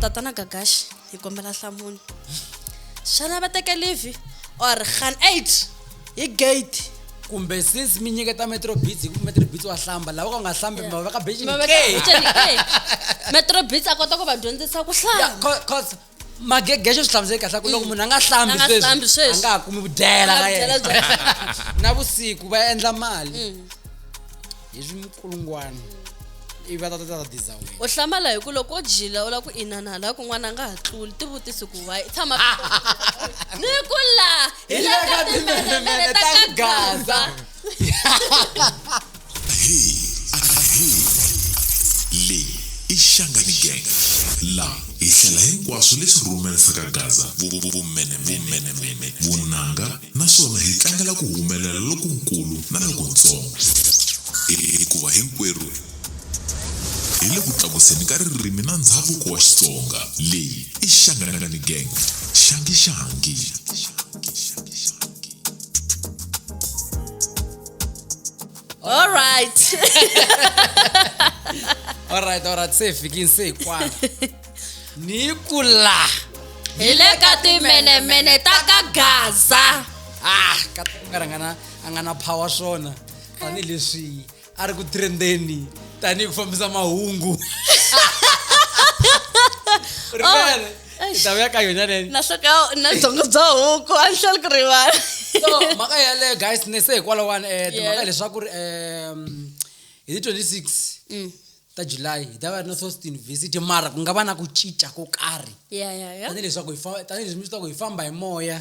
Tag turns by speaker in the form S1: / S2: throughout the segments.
S1: tatana gagaxi hi kombela hlamuni xana va teke livi or khan eight hi gate kumbe since
S2: mi nyiketa metrobits hi ku metrobits wa hlamba lava ka nga hlambi ma veka becinmetrobits
S1: a kota ku va dyondzisa ku hlamba
S2: magegexo swi hlamusele kahle ku loko mm. munhu a nga hlambi sweswi a nga ha kumi vudyela ka yena na vusiku va endla mali mm. hi swikulungwana ivi va tata tata diza wena u hlamala hi ku loko
S1: o jila u lava ku inana laha kun'wana a nga ha tluli tivutisi ku wayi tshama ni ku la hi le ka
S2: timbelemele ta ka gaza
S3: hi hi leyi i xangani gang la hi hlela hinkwaswo leswi rhumerisaka gaza vumenemene vunanga naswona hi tlangela ku humelela lokunkulu na lokuntsongo, hikuva hinkwerhu hi le ku tlakuseni ka ririmi na ndzhavuko wa Xitsonga. Leyi i Shangani Gang, Shangi Shangi. All
S1: right.
S2: Alright, alright, se hi fikini se hi kwala. ni ku la hi le
S1: ka timenemene ta ka gaza ah ka
S2: ku nga rangana a nga na power swona tanihileswi a ri ku trendeni tanihi ku fambisa mahungu rivele oh, ta vuya ka yona leni na sweka na byongo
S1: bya huku a ni hleli ku rivala so mhaka
S2: yaleyo guys ne se hikwalawani um eh, timhaka leswaku ri um hi ti 26 mm. ta july hi ta va ri na sost university mara ku nga va na ku cinca ko karhi ya ya ya tanihileswaku hi fa- tanihileswi mi swi tivaka hi famba hi moya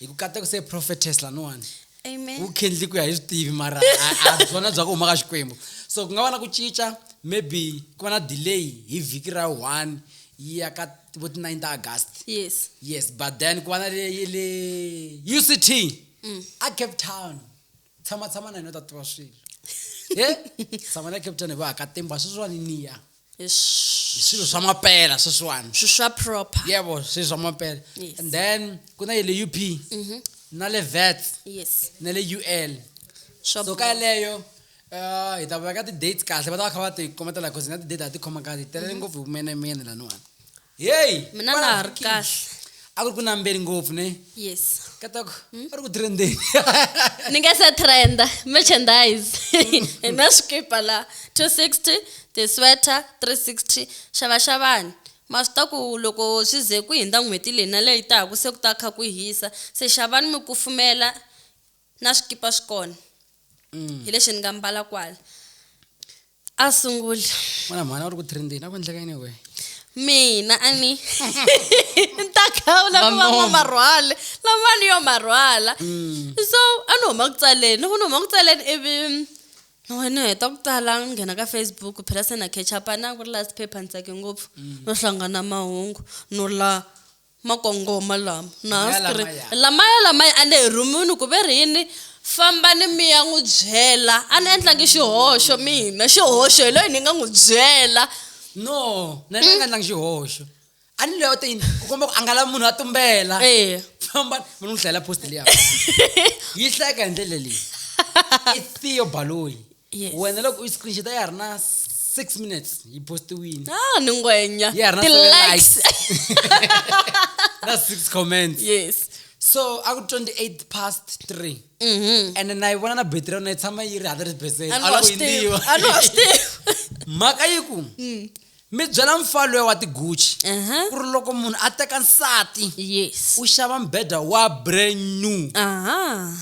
S2: hi ku kata ku se prophetess laniwani amen wu khendli
S1: ku ya hi swi
S2: tivi mara a- a byona bya ku huma ka xikwembu so ku nga va na ku cinca maybe ku va na delay hi vhiki ra one yi ya ka vo ti 9 ta august yes yes but then ku va na leyi le uct a cape town tshama tshama na yena u ta tiva swilo he tshama na captain va ka timba sweswiwani niya hi swilo swa mapela sweswiwani swilo swa proper
S1: yebo swilo swa mapela
S2: and then ku na yele up mhm. na le vet yes na le ul so ka yeleyo um hi ta veka ti-date kahle va ta va kha va ti kometela cause na ti-date a ti khoma kahle hi telele mhm. ngopfu hi vumenemene laniwani heyi
S1: mina na ha ri kahle a ku ri ku nambeli
S2: ngopfu ne yes katako hmm? a ri ku trendeni ni nga
S1: se trenda merchandise hi na swikipa la 260 tisweater 360 xavaxavani ma swi ta ku loko swi ze ku hindza n'hweti leyi na leyi taka se ku ta kha ku hisa se xavani mi kufumela na swikipa swi kona mm. hi lexi ni nga mbala kwala a sungula mwana mhana u ri ku
S2: trendini a ku endleka yini we mina a
S1: ni ni ta khawula ku va n'wamarhwale lama ni yo marhwala mm. so a ni huma ku tsaleni loko ni huma ku tsaleni ivi ni heta ku tsala ni nghena ka facebook phela se na catch up a na ku ri last paper ni tsake ngopfu mm. no hlangana mahungu no la Makongoma lama, na ha swi ri, lamaya, lamaya a ni hi rhumiwini ku ve ri yini? Fambani mi ya n'wi byela. A ni endlangi xihoxo mina, xihoxo hi loyi ni nga n'wi byela. No,
S2: na ni nga endlangi xihoxo. A ni loyi a te yini? Ku komba ku a nga lavi munhu a tumbela. Eya. Fambani, mi n'wi hlayela post liya. Yi hlayeka hi ndlela leyi. I Theo Baloyi. Yes. wena loko u yi screenshot ya ha ri na six minutes yi postiwile ah ni ngwenya
S1: ya ha ri na seven ti-likes
S2: na six comments yes so a ku 28 past 3 Mhm. ene na yi vona na battery ya yona yi tshama yi ri 100 percent a ni wa swi tivi a ni wa swi tivi mhaka yi ku mi byela mfalo ya wa tiguchi Aha. ku ri loko munhu a teka nsati yes u xava mbheda wa brand new aha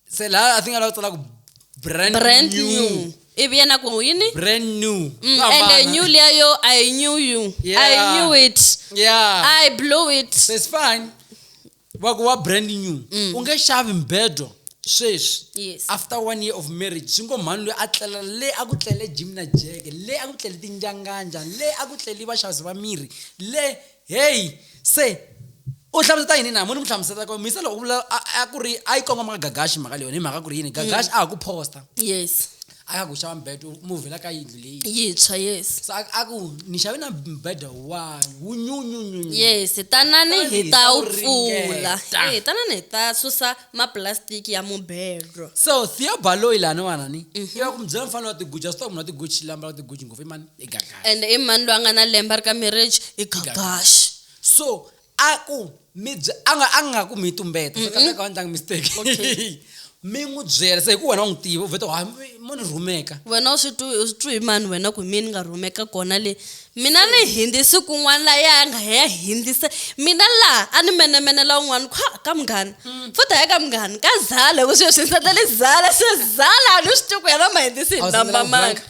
S2: se la i think a lava tsala ku brand, brand new, new. ivi yena ku yini
S1: brand new
S2: mm, ende new liya
S1: yo i knew you yeah. i knew it yeah. i blew it so it's fine
S2: va ku wa brand new mm. u nge xavi mbedo sweswi yes. after one year of marriage swi ngo mhani loyi a tlela le a ku tlele jim na jeke le a ku tlele tinjanganja le a ku tlele vaxazi va miri le heyi se u hlamuseta yini na mo ni mu hlamuseta ko misa loko vula a ku ri a yi kongoma ka gagaxi mhaka leyi yona hi mhaka ku ri yini gagaxi a ha ku posta yes a ya ku xava mbhedo u muvhela ka yindlu leyi yintshwa yes
S1: so a ku ni
S2: xave na mbhedo wa wu nyunyunyunyu yes tanani
S1: hi ta wu pfula e eh, tanani hi ta susa mapulasitiki ya mubhedo so thiobaloyi
S2: laniwanani mhm. i va ku mi byela mfanelo wa tiguji a swi ta ku munhu wa tiguji lambala tiguji ngopfu i mani i gagaxi and i mani loyi a nga na
S1: lembe ri ka marriage i gagaxi so
S2: a ku mi bye a nga a nga ku mi tumbeta so kahle ka ndlanga mistake mi n'wi byela se hi ku wena u n'wi tiva u vheta ha mo ni rhumeka wena u swi twi u swi
S1: twi hi mani wena ku hi mina ni nga rhumeka kona le mina ni hindi siku un'wana la ya nga ya hindisa mina laha a ni menemenela un'wana kha ka munghana mm. futhi ya ka munghana ka zala ku sweswi ni sandla le zala se zala a ni swi twi ku yena ma hindisi hi namba manga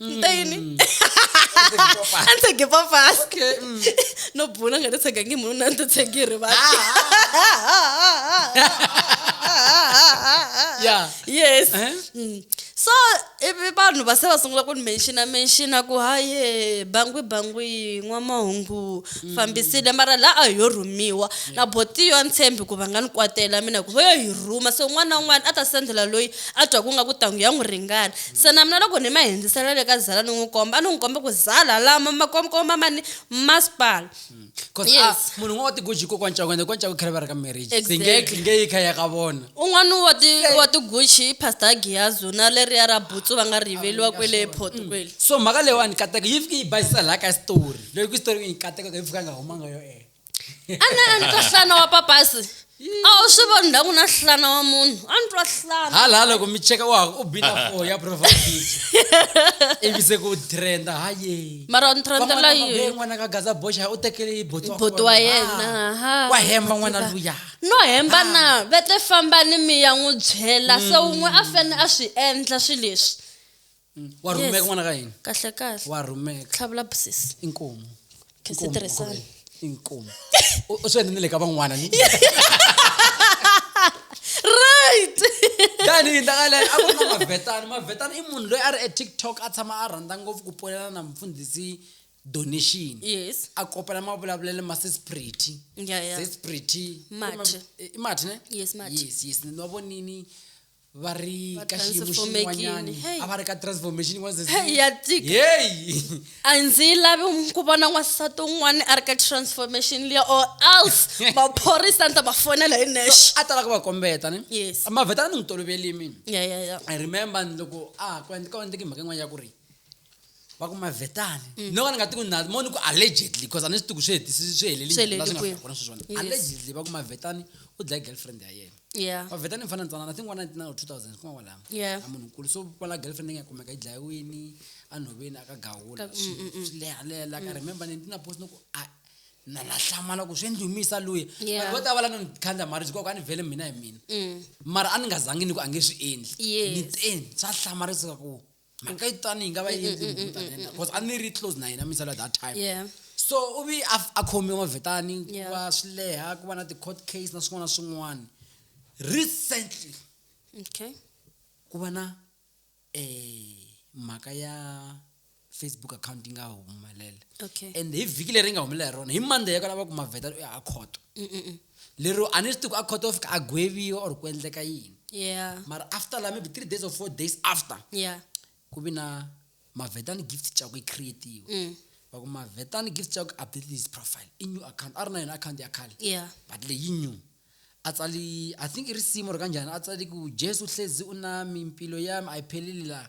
S1: nta yini Mm. a ni tshege papasi Okay, mm.
S2: no bula
S1: nga ta tshega ngi munhu na ni ta tshegi hi rivala
S2: Yeah. yes Eh?
S1: Mm. so ivi vanhu va se va sungula ku ni menshina menshina ku haye bangwi bangwi n'wamahungu Mm. fambisile mara la a hi yo rhumiwa na botiyo a ni tshembi ku va nga ni kwatela mina ku va yo hi rhuma so un'wana na un'wana a ta sendela loyi a twa ku nga ku tangu ya n'wi ringana Se na mina loko ni ma hindzisela le ka Zala ni n'wi komba a ni n'wi kombe ku Zala lama ma komba mani masipala Cause a Yes.
S2: munhu un'wana wa tiguji ko kwancaku ende kwancaku khale va ri ka marriage se nge Exactly. nge yi kha ya ka vona un'wana wa ti
S1: wa tiguchi i pastor giyazu na leriya ra butsu va nga ri yiveliwa kwele port kwele so mhaka leyiwani
S2: kateko yi fike yi basisa laha ka xitori loko xitori yi kateko ka yi fika a nga humanga yo e a na a
S1: ni twa nhlana wa papasi a wu swi voni ndhaku na nhlana wa munhu a ni twa nhlana hala hala ku mi cheka wa
S2: u bina fo ya profile picture ivi se ku trenda haye mara ni trendela
S1: yini n'wana ka gaza boxa
S2: u tekele boto wa yena
S1: Ah, wa hemba n'wana luya
S2: no hemba na
S1: vete fambani mi ya n'wi byela se wun'we a fane a swi endla swi leswi Mm. wa Yes.
S2: rhumeka n'wana ka hina kahle kahle wa
S1: rhumeka tlhavula
S2: busisi
S1: inkomu
S2: Khe si tirhisana.
S1: inkomu
S2: U- u swi endle ni le ka van'wana ni
S1: right tanihi
S2: ndakale a ku ri na mavetani mavetani i munhu loyi a ri etiktok a tshama a rhandza ngopfu ku ponela na mfundhisi donation yes a
S1: kopela mavulavulelo
S2: ma sesprity ya ya sesprity
S1: Mathi.
S2: i mathi
S1: ne Yes, Mathi.
S2: yes yes
S1: ni wa vonini
S2: va ri Va ka xiyimo transformekile. xin'wanyani
S1: Hey. a
S2: va ri ka transformation yin'wana se- Hey, ya tika.
S1: yeyi a ndzi yi lavi ku vona n'wansati un'wana a ri ka transformation liya or else maphorisa ni ta ma fonela hi nexe a talaka va kombeta
S2: ne Yes. mavhetana ni n'wi
S1: toloveli
S2: mina ya ya ya i remember
S1: ni loko
S2: a ha ku endle- ka endleke mhaka yin'wana ya ku ri va ku mavetani Mm. no ka ni nga tiku na mo ni ku allegedly because a ni swi tiku swi hetisi swi Swi heleli la swi nga heleli kwihi. kona sweswiwani Yes. allegedly va ku mavetani u dlaye girlfriend ya yena yeah vavheta ni mfana
S1: ntsanana think
S2: 1999 or 2000 kuma kwalamo Yeah. a munhu nkulu so
S1: kwala
S2: girlfriend leyi nga kumeka yi dlayiwini a nhoveni a ka gawula Ka- swi swi lehalela ka remember ni ndina post noku a na na hlamala ku swi ndlumisa luya Yeah. vanhu vo tala va la no ni khandla marriage koko a ni vhele mina hi mina Mm. mara a ni nga zangi ni ku a nge swi endli Yes. ni teni swa hlamarisa ku mhaka yi tani yi nga va yi endli munhu tani na yena, because a ni ri close na yena misala that time yeah so u
S1: vi a f-
S2: a khomiwe mavetani ku Yeah. va swi leha ku va na ti-court case na swin'wana na swin'wana recently okay
S1: ku va
S2: na um mhaka ya facebook account yi nga humelela okay and hi
S1: vhiki leri yi nga
S2: humelela hi rona hi monday ya ka lava ku mavhetani u ya a khoto Mm-mm-mm. lero a ni swi tivi ku a court of a gweviwa or ku endleka yini yeah mara
S1: after la maybe
S2: three days or four days after yeah ku
S1: vi na
S2: mavetani gift chako yi creatiwe mm. va ku mavetani gift chako update his profile i new account a ri na yona account ya khale yeah but leyi new a tsali i think i risimu ri kanjhani a tsali ku jesu hlezi u nami mpilo yami a yi pheleli laha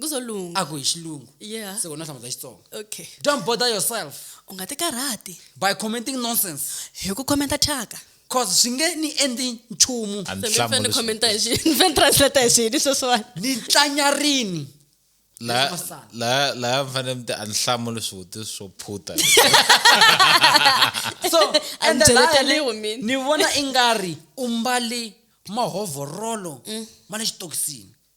S2: kuzolunga a ku
S1: hi xilungu
S2: yeah se wena u hlamula
S1: xitsonga
S2: okay don't bother
S1: yourself
S2: u nga
S1: tikarhati by
S2: commenting
S1: nonsense
S2: hi ku khomenta
S1: thyaka
S2: cause swi nge ni endli nchumu a ni ni fanele ni hlamuli khomenta
S1: hi xi ni fanele ni translate hi xini sweswiwani ni tlanyarini
S2: laya Masana.
S4: laya laya mi fanele mi ti a ni hlamuli swivutiso swo phuta
S2: so A and ni then I- cheleteliwi mina.
S1: ni vona i nga
S2: ri u mbali mahovorolo ma le xitokisini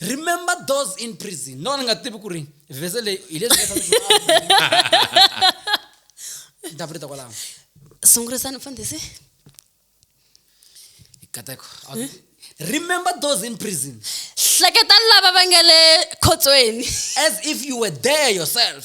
S2: remember those in prison no ni nga tivi ku ri vhese leyi hi leswi ni ta pfurita kwalaho sungurisani
S1: mfundhisi
S2: kateko remember those in prison hleketani lava
S1: va nga le khotsweni as if you
S2: were there yourself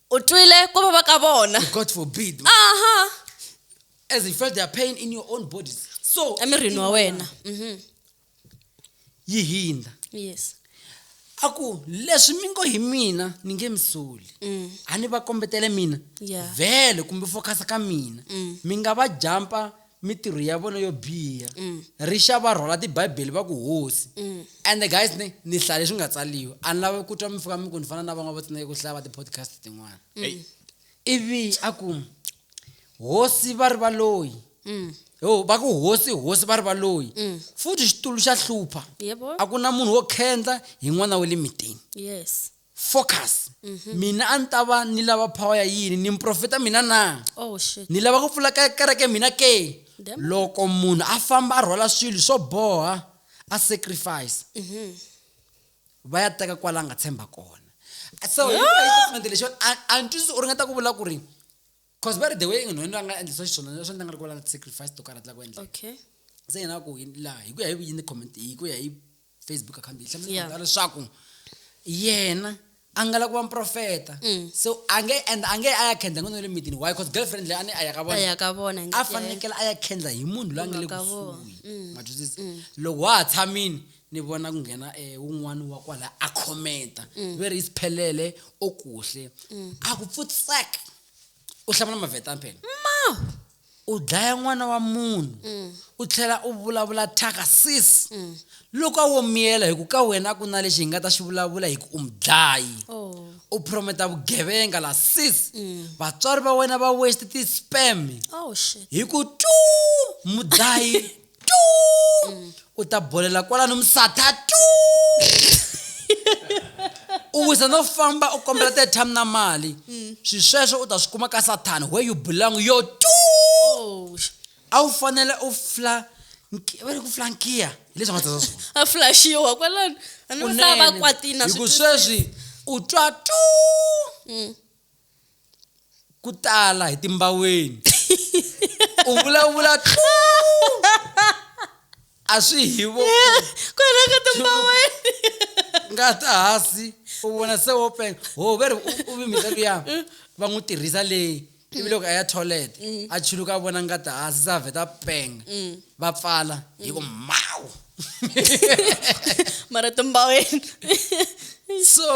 S1: o twile ku vava ka vona God forbid.
S2: aha
S1: As
S2: you felt their pain in your own bodies. So, emirini wa wena
S1: Mhm.
S2: yi hindza. yes
S1: A ku
S2: leswi mi ngo hi mina ni nge mi soli. Mm. A ni va kombetele mina. Yeah. Vhele
S1: kumbe focus
S2: ka mina. Mm. Mi nga va jampa mitirho ya vona yo biha mm. rixa va rhwala tibibele va ku hosi mm. and the guys ni ni hlaya leswi nga tsaliwa a ni lava ku twa mi fika mi ku ni fana na van'wana vo tsineke ku hlaya va ti-podcast tin'wana mm. ivi a ku hosi va ri va loyi yo va ku hosi hosi va ri va loyi futhi xitulu xa hlupha a ku na munhu
S1: wo
S2: khendla hi n'wana wa le mitini yes
S1: focus
S2: mm-hmm. mina a ni ta va ni lava power ya yini ni muprofeta mina na oh, ni lava ku
S1: pfula kereke
S2: mina ke loko
S1: munhu a
S2: famba a rhwala swilo swo boha a sacrifice mm-hmm. va ya teka kwala nga tshemba kona so statement lexi a ni twisisi u ringeta ku vula ku ri cause va ri the way munhu yena a nga endlisa xiswona leswi ni nga ri ku valanga sacrifice to karhi a tlaka ku endla okay se yena
S1: ku
S2: laha hi ku ya hi yini comment hi ku ya hi facebook account yi hlamusela leswaku yena a nga la ku va mprofeta mm. so a nge and a nge a ya khendla n'wana wa le mitini why cause girlfriend leyi a ni a ya ka vonaya ka vona
S1: a
S2: fanekele
S1: a ya
S2: khendla hi munhu loyi a nga le kusuhi mm.
S1: matwisisa
S2: mm. loko wa ha tshamini ni vona ku nghena eh, un'wana wa kwala a khomenta mm. veri isiphelele okuhle mm. akupfutsek u hlamula mavetani phela ma u dlaya n'wana wa munhu mm. u tlhela u vulavula thyaka sis loko a wo miyela hi ku ka wena a ku na lexi hi nga ta xi vulavula hi ku u mudlayi oh. u
S1: prometa
S2: vugevenga la sis vatswari va wena va westi ti-spam oh, hi
S1: ku tu
S2: mudlayi tu u ta bolela kwalano misatha tu u wisa no famba u kombela tetram na mali mm. swi sweswo u ta swi kuma ka sathana where you belong yo tu oh.
S1: a wu
S2: fanele u fla va ri ku flankiya hi leswi nga tsasa swona a flashiwa
S1: kwalano a ni va va kwatina hiku sweswi
S2: u twa tu mm. ku tala hi timbaweni u vulavula tluu a swi hi vo ku hela ka
S1: timbaweni nga
S2: ta hasi u vona se wo penga ho ve ri u- u vimita luya va n'wi tirhisa leyi ivi loko a ya toilet a chuluka a vona nga ta hasi se a vheta a penga va pfala hi ku mawu
S1: mara timbaweni
S2: so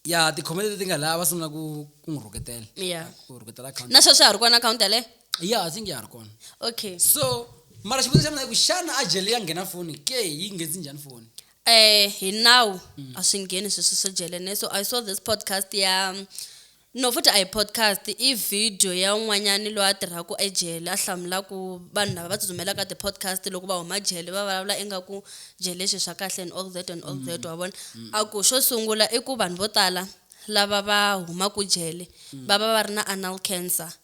S2: ya tikhomele leti nga lava sungula ku ku n'wi rhuketela ya ku rhuketela
S1: akhawunti na
S2: sweswi a ri kona akhawunti
S1: yaleyo ya i think ya ha ri
S2: kona okay so
S1: mara
S2: xivutiso xa mina i ku xana a jele ya nghena foni ke yi nghenisi njhani foni eh hi
S1: nawu a swi ngheni sweswo swo jele ne so i saw this podcast ya No Futa a hi podcast, i vhidiyo ya un'wanyana loyi a tirhaka ejele a hlamula ku vanhu lava va tsutsumelaka ti-podcast loko va huma jele va vulavula ingaku jele i swilo swa kahle and all that and all that wa vona. A ku xo sungula i ku vanhu vo tala lava va humaka jele va va va ri na anal cancer.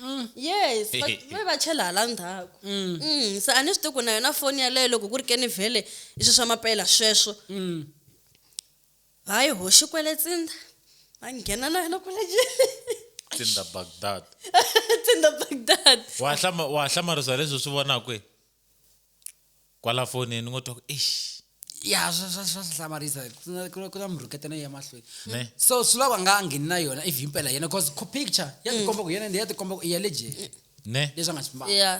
S1: mm. yes va va chela hala ndzhaku mm. mm. se a ni swi tiku na yona foni yaleyo loko ku ri ke ni vhele i swi swa mapela sweswo mm. hayi ho xikwele tsinda a nghena na yona kwale tsinda
S4: bagdad tsinda
S1: bagdad wa
S4: hlamarisa leswi swi vonakwi Kwala fonini ni ngo twa ku eish ya swa swa
S2: swa swi hlamarisa ku na- ku na- ku na murhuketa na ya mahlweni ne so swi lava
S4: nga a
S2: ngheni na yona if himpela yena because co picture ya tikomba ku yena ndi ya tikomba ku i ya le jele ne leswi a nga swi
S4: mbala ya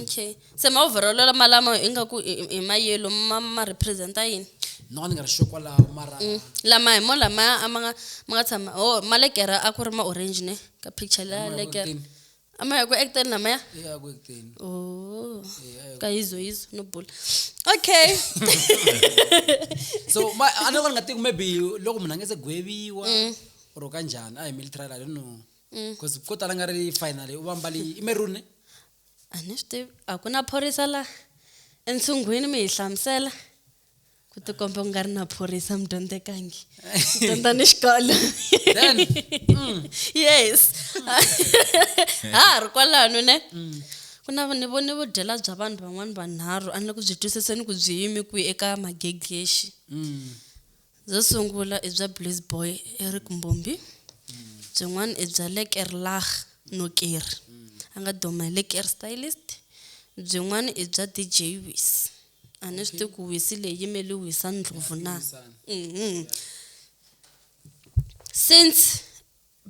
S1: okay se ma-overall lama lama ingaku i- i- i mayelo ma ma representa yini no ni nga ri sure
S2: kwalaho mara Mm. lama hi mo
S1: lamaya a ma nga ma nga tshama o ma lekera a ku ri ma-orange ne ka picture la Lama ya lekera vorhutini. amaya ku-ekten namaya eya kuekuteni
S2: oh
S1: Eh, kayizo yizo no bula okay
S2: so ma- a ni loko ni nga tivi maybe loko munhu a nge se gweviwa or ka njhani a hi military i don't know because ko tala nga ri final u va mbali i merune a ni
S1: swi tivi a ku na phorisa la entsungwini mi hi hlamusela ku ti komba ku nga ri na phorisa mudyondzekangi dyondza ni xikolo mm. yes mm. ha ha ri kwalano ne mm. ku na ni vone vudyela bya vanhu van'wana vanharhu a ni ku byi twisiseni ku byi yimi kwihi eka magegexi byo sungula i bya blaze boy eric mbombi byin'wana i bya le kerlah noker a nga duma hi le ker stylist byin'wana i bya dj wis A ni swi tivi ku wisi leyi yimele wisa ndlopfu na mhm since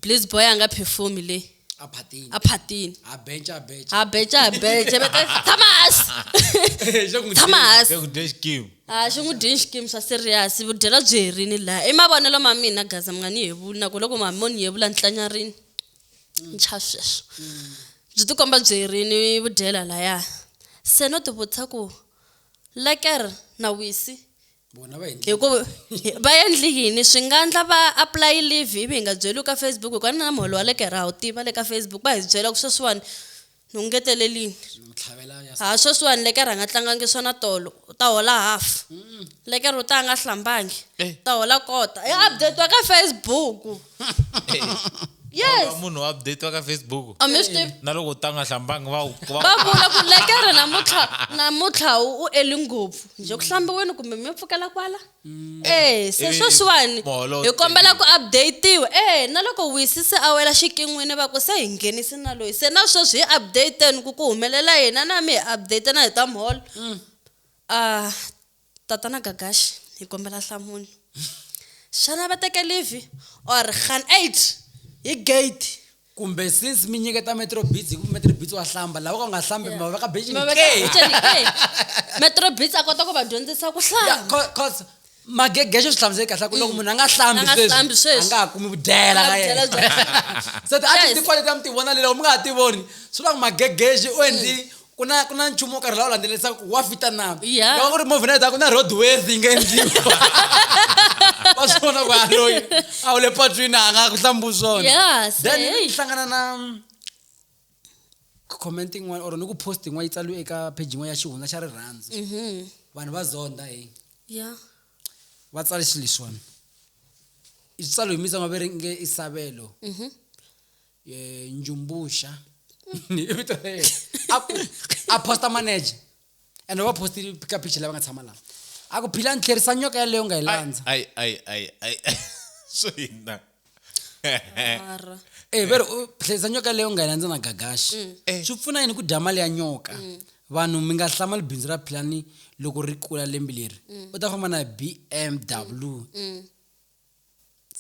S1: bliss boy a nga perform le a phatini a
S2: phatini a
S1: bench a bench
S2: ha beca ha
S1: beca veka tshama hansi xa ku tshama hansi ku dya
S4: xikimu a xi n'wi dini xikimu
S1: swa serious vudyela byi herini laha i mavonelo ma mina gaza mi nga ni yevuli na ku loko ma mo ni yevula ni tlanyarini ntsha sweswo byi tikomba byi ri ni vudyela laya se no tivutisa ku leker na wisi vona va endle
S2: hikuva va
S1: endli yini swi nga ndla va apply leave ivi hi nga byeliwi ka facebook hikuva na muholo wa lekera ha wu tiva le ka facebook va hi byela ku sweswiwani ni ku ngetelelini ni ku tlhavela
S2: ya ha sweswiwani lekere a nga
S1: tlangangi swona tolo u ta hola half lekere u ta a nga hlambangi Eh. u ta hola kota ya updatiwa ka facebook yes munhu wa update wa ka
S4: facebook a mi swi tivi na loko
S1: u ta nga hlambangi
S4: va wu- va va vula ku
S1: lekere namuntlha namuntlha u u eli ngopfu njhe ku hlambiweni kumbe mi pfukela kwala Mm. Eh, se sweswiwani hi kombela
S4: ku
S1: updatiwa eh na loko wisise a wela xikin'wini va ku se hi nghenisi na loyi se na sweswi hi updateni ku ku humelela hina na mi hi update na hi ta mholo mm. ah tatana gagashi hi kombela nhlamulo xana va teke live or khan eight hi gate kumbe since
S2: mi nyiketa metro beats hi ku metro beats wa hlamba lava ka nga hlambi mi va veka bencini ke
S1: metrobits a kota ku va dyondzisa ku hlamba cause
S2: magege xo swi hlamuseli kahle ku loko mm. munhu a nga hlambi sweswi a nga
S1: ha kumi
S2: vudyela
S1: ka
S2: yena se ti a
S1: ti ti quality
S2: a mi ti vona le loko mi
S1: nga ha
S2: ti voni swi vula ku magegexi u endli mm. ku na ku na nchumu wo karhi lawa landzelerisa ku wa fita na Yeah. loko ku ri movie night
S1: a ku na
S2: road worthy yi nga endliwa wa swi vona ku aloyi a wu le patwini a nga ku hlambu swona Yeah, se, then hey. ni
S1: hlangana na
S2: comment yin'wana or ni ku post yin'wana yi tsaliwe eka page yin'wana ya xihundla xa rirhandzu Mhm. vanhu va zonda hi
S1: Yeah. va
S2: tsale xilo leswiwani i switsalo hi mitsango va ri nge isavelo Mhm. eh, njumbuxa i vito ra yena a ku a posta manager and va posti ka picha lava nga tshama lava a ku phila ni tlherisa nyoka yaleyo u nga yi landza ai ai ai ai ai.
S4: swo hina mara
S1: e ve ri u
S2: tlherisa nyoka yaleyo u nga yi landza na gagaxi Eh. swi pfuna yini ku dya mali ya nyoka vanhu mi nga hlamali bindzu ra philani loko ri kula lembi leri u ta famba na bmw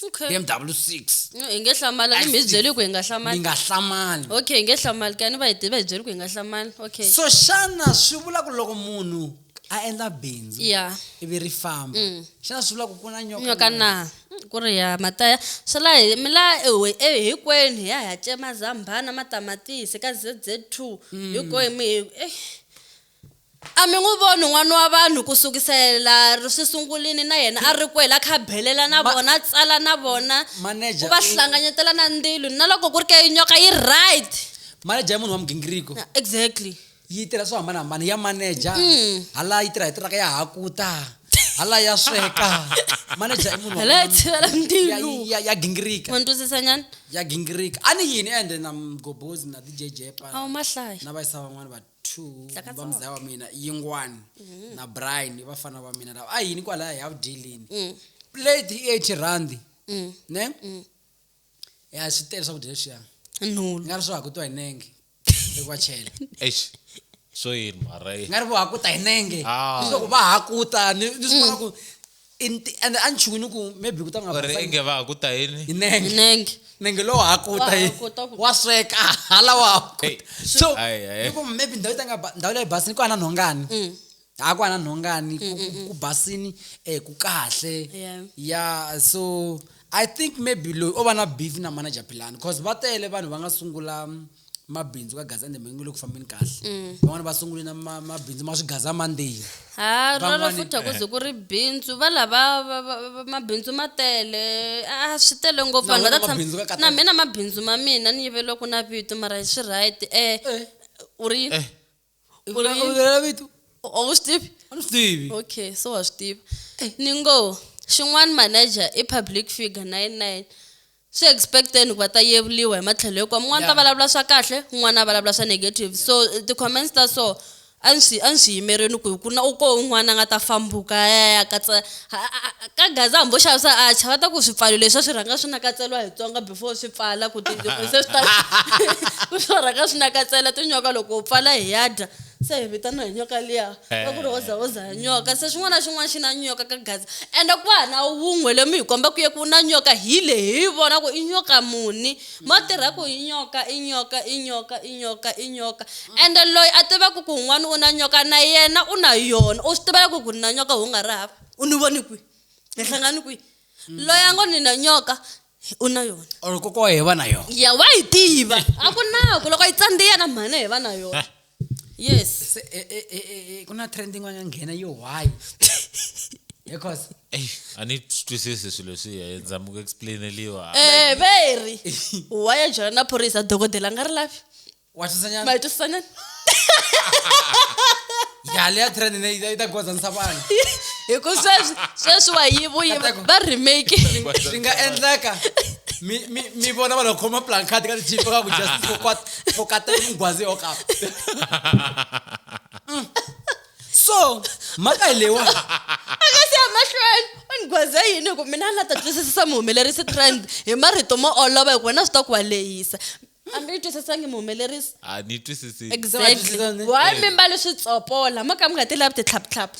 S1: okay BMW
S2: 6 No, hi nge hlamali a ni mi
S1: hi byeli ku hi nga mi hlamali nga hlamali
S2: okay hi nge hlamali
S1: kani va hi ti- va hi byeli ku hi nga hlamali okay so xana
S2: swi vula ku loko munhu a endla bindzu ya ivi ri
S1: famba
S2: xana swi vula ku ku na nyoka nyoka na? na Mm,
S1: ku ri ya mataya swi la hi mi la ewe e hinkwenu hi ya hi ya cema zambhana matamatisi ka zz two hinkwenu mi eh A mi n'wi voni n'wana wa vanhu ku sukisela ri swi sungulini na yena a ri kwele a kha a belela na Ma- vona a tsala na vona Manager, ku va i- hlanganyetela
S2: na
S1: ndilo na loko ku ri ke nyoka yi right manager i munhu
S2: wa migingiriko exactly yi tirha swo hambanahambana ya manager Mm. hala yi tirha hi tiraka ya hakuta hala ya sweka manager i munhu wa- hala ya tshivela ya- ndilo
S1: ya- ya gingirika wa
S2: ni twisisa nyana
S1: ya gingirika a
S2: ni yini ende na mgobozi na dj jepa a wu mahlaya na vayisa
S1: van'wana va
S2: two Tlakatsa va muzaya wa mina yingwani Mm-hmm. na brian i vafana va mina lava a yini kwalaya hi ya ku dyeleni Mm. plate i eighty rand Mm. ne ya swi tele swakudya leswiya ni nhulu nga ri swo
S1: hakutiwa hi
S2: nenge loko va chela eish
S4: swo yini mara eh. nga ri vo hakuta hi
S2: nenge Ah. leswaku va
S4: hakuta
S2: ni ni swi vona ku I nti- ende a ni chuki ni ku maybe ku ta nga or basanga. inge va ha ku ta yini
S4: Hi nenge nenge
S2: nenge lowu
S1: hakuta
S2: Wa yi hakuta ku- wa
S1: sweka hala
S2: wa hakuta Hey. so Ayi,
S4: ayi. ni ku
S2: maybe
S4: ndhawu yi ta nga
S2: ba- ndhawu leyi basini ku ana nhongani Mm. ha ku ana nhongani ku- ku- ku basini um ku kahle Yeah. ya
S1: so
S2: i think maybe loyi o va na beef na manager philani cause va tele vanhu va nga sungula mm, mabindzu ka gaza ndembe nge le ku fambeni kahle mm. van'wana va sungule na mabindzu ma swi gaza mandeni ha rona
S1: futhi a ku ze ku ri bindzu va lava mabindzu ma tele a swi tele ngopfu vanhu va na mina
S2: mabindzu
S1: ma mina ni yiveliwa ku na vito mara swi right eh, eh. u ri eh. ngo Uri- ulela vito a
S2: wu swi tivi
S1: a ni swi tivi okay
S2: so wa swi tiva
S1: ni ngo xin'wana manager i public figure na yena na yena swi expecteni ku va ta yevuriwa hi matlhelo hinkwawo mun'wana ta Yeah. vulavula swa kahle
S2: un'wana
S1: a vulavula swa negative so eh, ti-comments ta so a ni swi a ni swi yimerini ku ku na u ko un'wana a nga ta fambuka a ya ya katsa ka gaza hambi wo xavisa acha va ta ku swipfalo leswi a swi rhanga swi nakatseriwa hi tsonga before swi pfala ku tinyoka se swi ta ku swi rhanga swi nakatsela tinyoka loko u pfala hi ya dya se hi vitaniwa hi nyoka liya va ku ri hoza hoza ya nyoka se xin'wana na xin'wana xi na nyoka ka gaza ende ku va na wun'we loyi mi hi komba ku ye ku na nyoka hi le hi vona ku i nyoka muni. Ma tirha ku i nyoka, i nyoka, i nyoka, i nyoka, i nyoka. Ende loyi a tivaka ku un'wana u na nyoka na yena u na yona. U swi tiva ku ku ni na nyoka u nga ri hava, u ni vone kwihi, hi hlangane kwihi. Loyi a ngo ni na nyoka u na yona. Or kokwana wa yena va na
S2: yona. Ya wa yi tiva,
S1: a ku na ku loko yi tsandziya na mhani hi va na yona. yes se e, e,
S2: e, e, e, ku na trend yin'wana ya nghena yo why because eyi a
S4: ni swi twisisi swilo swiya hi zama ku explaineliwa Eh, very
S1: wa ya byela na phorisa dokodela a nga ri lavi wa twisanyana ma
S2: yi twisisanyana yale ya trend ne yi ta gozanisa vanhu hi ku
S1: sweswi sweswi wa yivu yivu Katako. va remake swi nga
S2: endleka mi mi mi vona vanhu va khoma plancard ka ti-tv va ka ku justice for kwat go katela mgwaze o gape mm. so maka lewa aka se
S1: amahlweni ungwaze yini ku mina na ta twisisisa muhumelerisi trend hi marito mo olova hi ku wena swi ta ku wa lehisa hambi yi twisisangi muhumelerisi a ni twisisi
S4: exactly
S1: why mimbalo
S2: swi
S1: tsopola mo ka mi nga ti lavi ti tlhaptlhaphu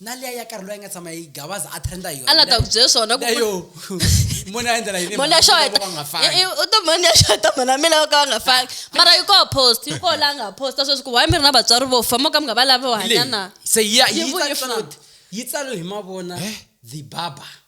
S2: na liya ya karhi loyi a nga tshama yi gabaza a trenda hi yona a la ta ku byela swona
S1: ku yo
S2: mona ya endlela yini mona xo heta
S1: u to
S2: mona xo heta
S1: mona mi lava ka va nga fani mara yi ko post yi ko la nga post ta sweswi ku why mi ri na vatswari vo fa mo ka mi nga va lava hanya na se ya yi
S2: tsalo
S1: yi tsalo
S2: hi mavona eh? the baba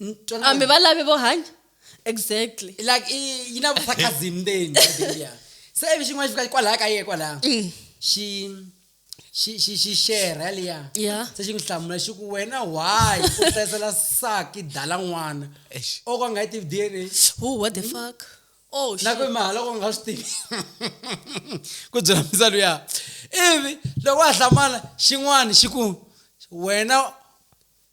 S1: N- twana- hambi va lave vo hanya exactly like i-
S2: yi na vusakhazi ndzeni I think, yeah. se ivi xin'wana xi fika kwalaha ka ye kwalaha Mm. xi xi xi xi share yaliya Yeah. se xi n'wi hlamula
S1: xi ku
S2: wena why u hlayisela saki dala n'wana Eish. o ka nga yi tivi dna who what the fuck
S1: oh na ku shit. mahala ku nga
S2: swi tivi ku byela misa luya ivi loko a hlamala xin'wana xi ku wena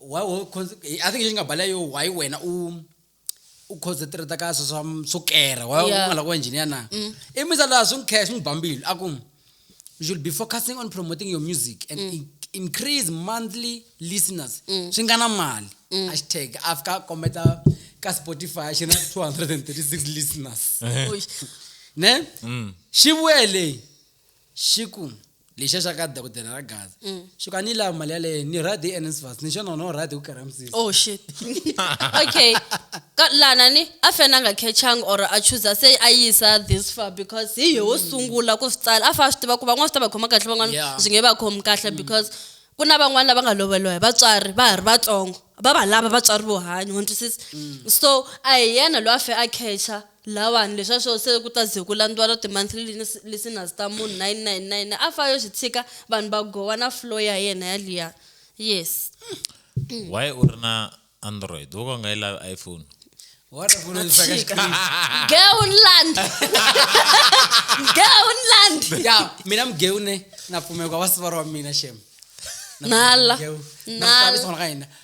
S2: why wo i think lexi nga bala yo why wena u u concentrate ka swo swa swo kera why u nga la ku engineer na mm. i misa la swi cash ni bambili a ku you should be focusing on promoting your music and mm. increase monthly listeners mm. swi nga na mali mm. hashtag afika kometa ka spotify xi na 236 listeners ne mm. xi vuye leyi xi ku lexiya xa ka dokodela ra gaza mm. xi ku a ni yi lava mali yaleyo ni ride hi nsfas ni xona wona u ride ku karhi misisi oh shit
S1: okay ka lana ni a fane a nga catchanga or a chuza se a yisa this far because hi yeho mm. sungula ku swi tsala a fa a swi tiva ku van'wana swi ta va khoma kahle van'wana byi nge va khomi kahle mm. because ku na van'wana lava nga loveliwa hi vatswari va ha ri vatsongo va va lava vatswari vo hanya wa ntwisisa so a hi yena loyi a fe a catcha La vanhu leswa swo se ku ta ze ku landiwa lo ti-monthly listeners ta munhu 999 a fa yo swi tshika vanhu va gowa na flow ya yena yaliya yes Why
S4: u ri na Android? Wo ka u nga yi lavi iPhone? What a fool
S2: is like a Geunland
S1: Geunland ya mina mugeu
S2: ne na pfumeka wa sivara wa mina shem nala
S1: nala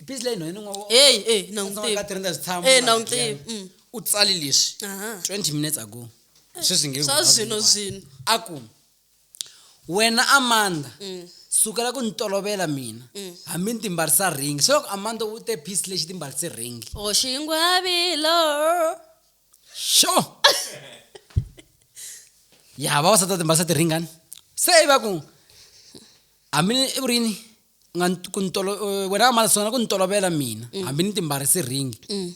S2: i busy leyi nhwanyana n'wa eyi eyi na n'wi ka
S1: tiva
S2: tirhenda switshamo
S1: Eh, na n'wi tiva, mm. u tsali leswi
S2: Aha. 20 minutes ago sweswi nge swa zwino zwino
S1: a ku
S2: wena amanda Mm. sukela ku ni tolovela mina Mm. hambi ni timbarisa ring se loko amanda u te piece lexi timbarise ring oxingwavilo xo ya vavasati va timbarisa tiringani se i va ku hambi ni- i vurini nga ni- ku ni tolo- eh, wena a mali sungula ku ni tolovela mina hambi ni timbarisi ringi Mm.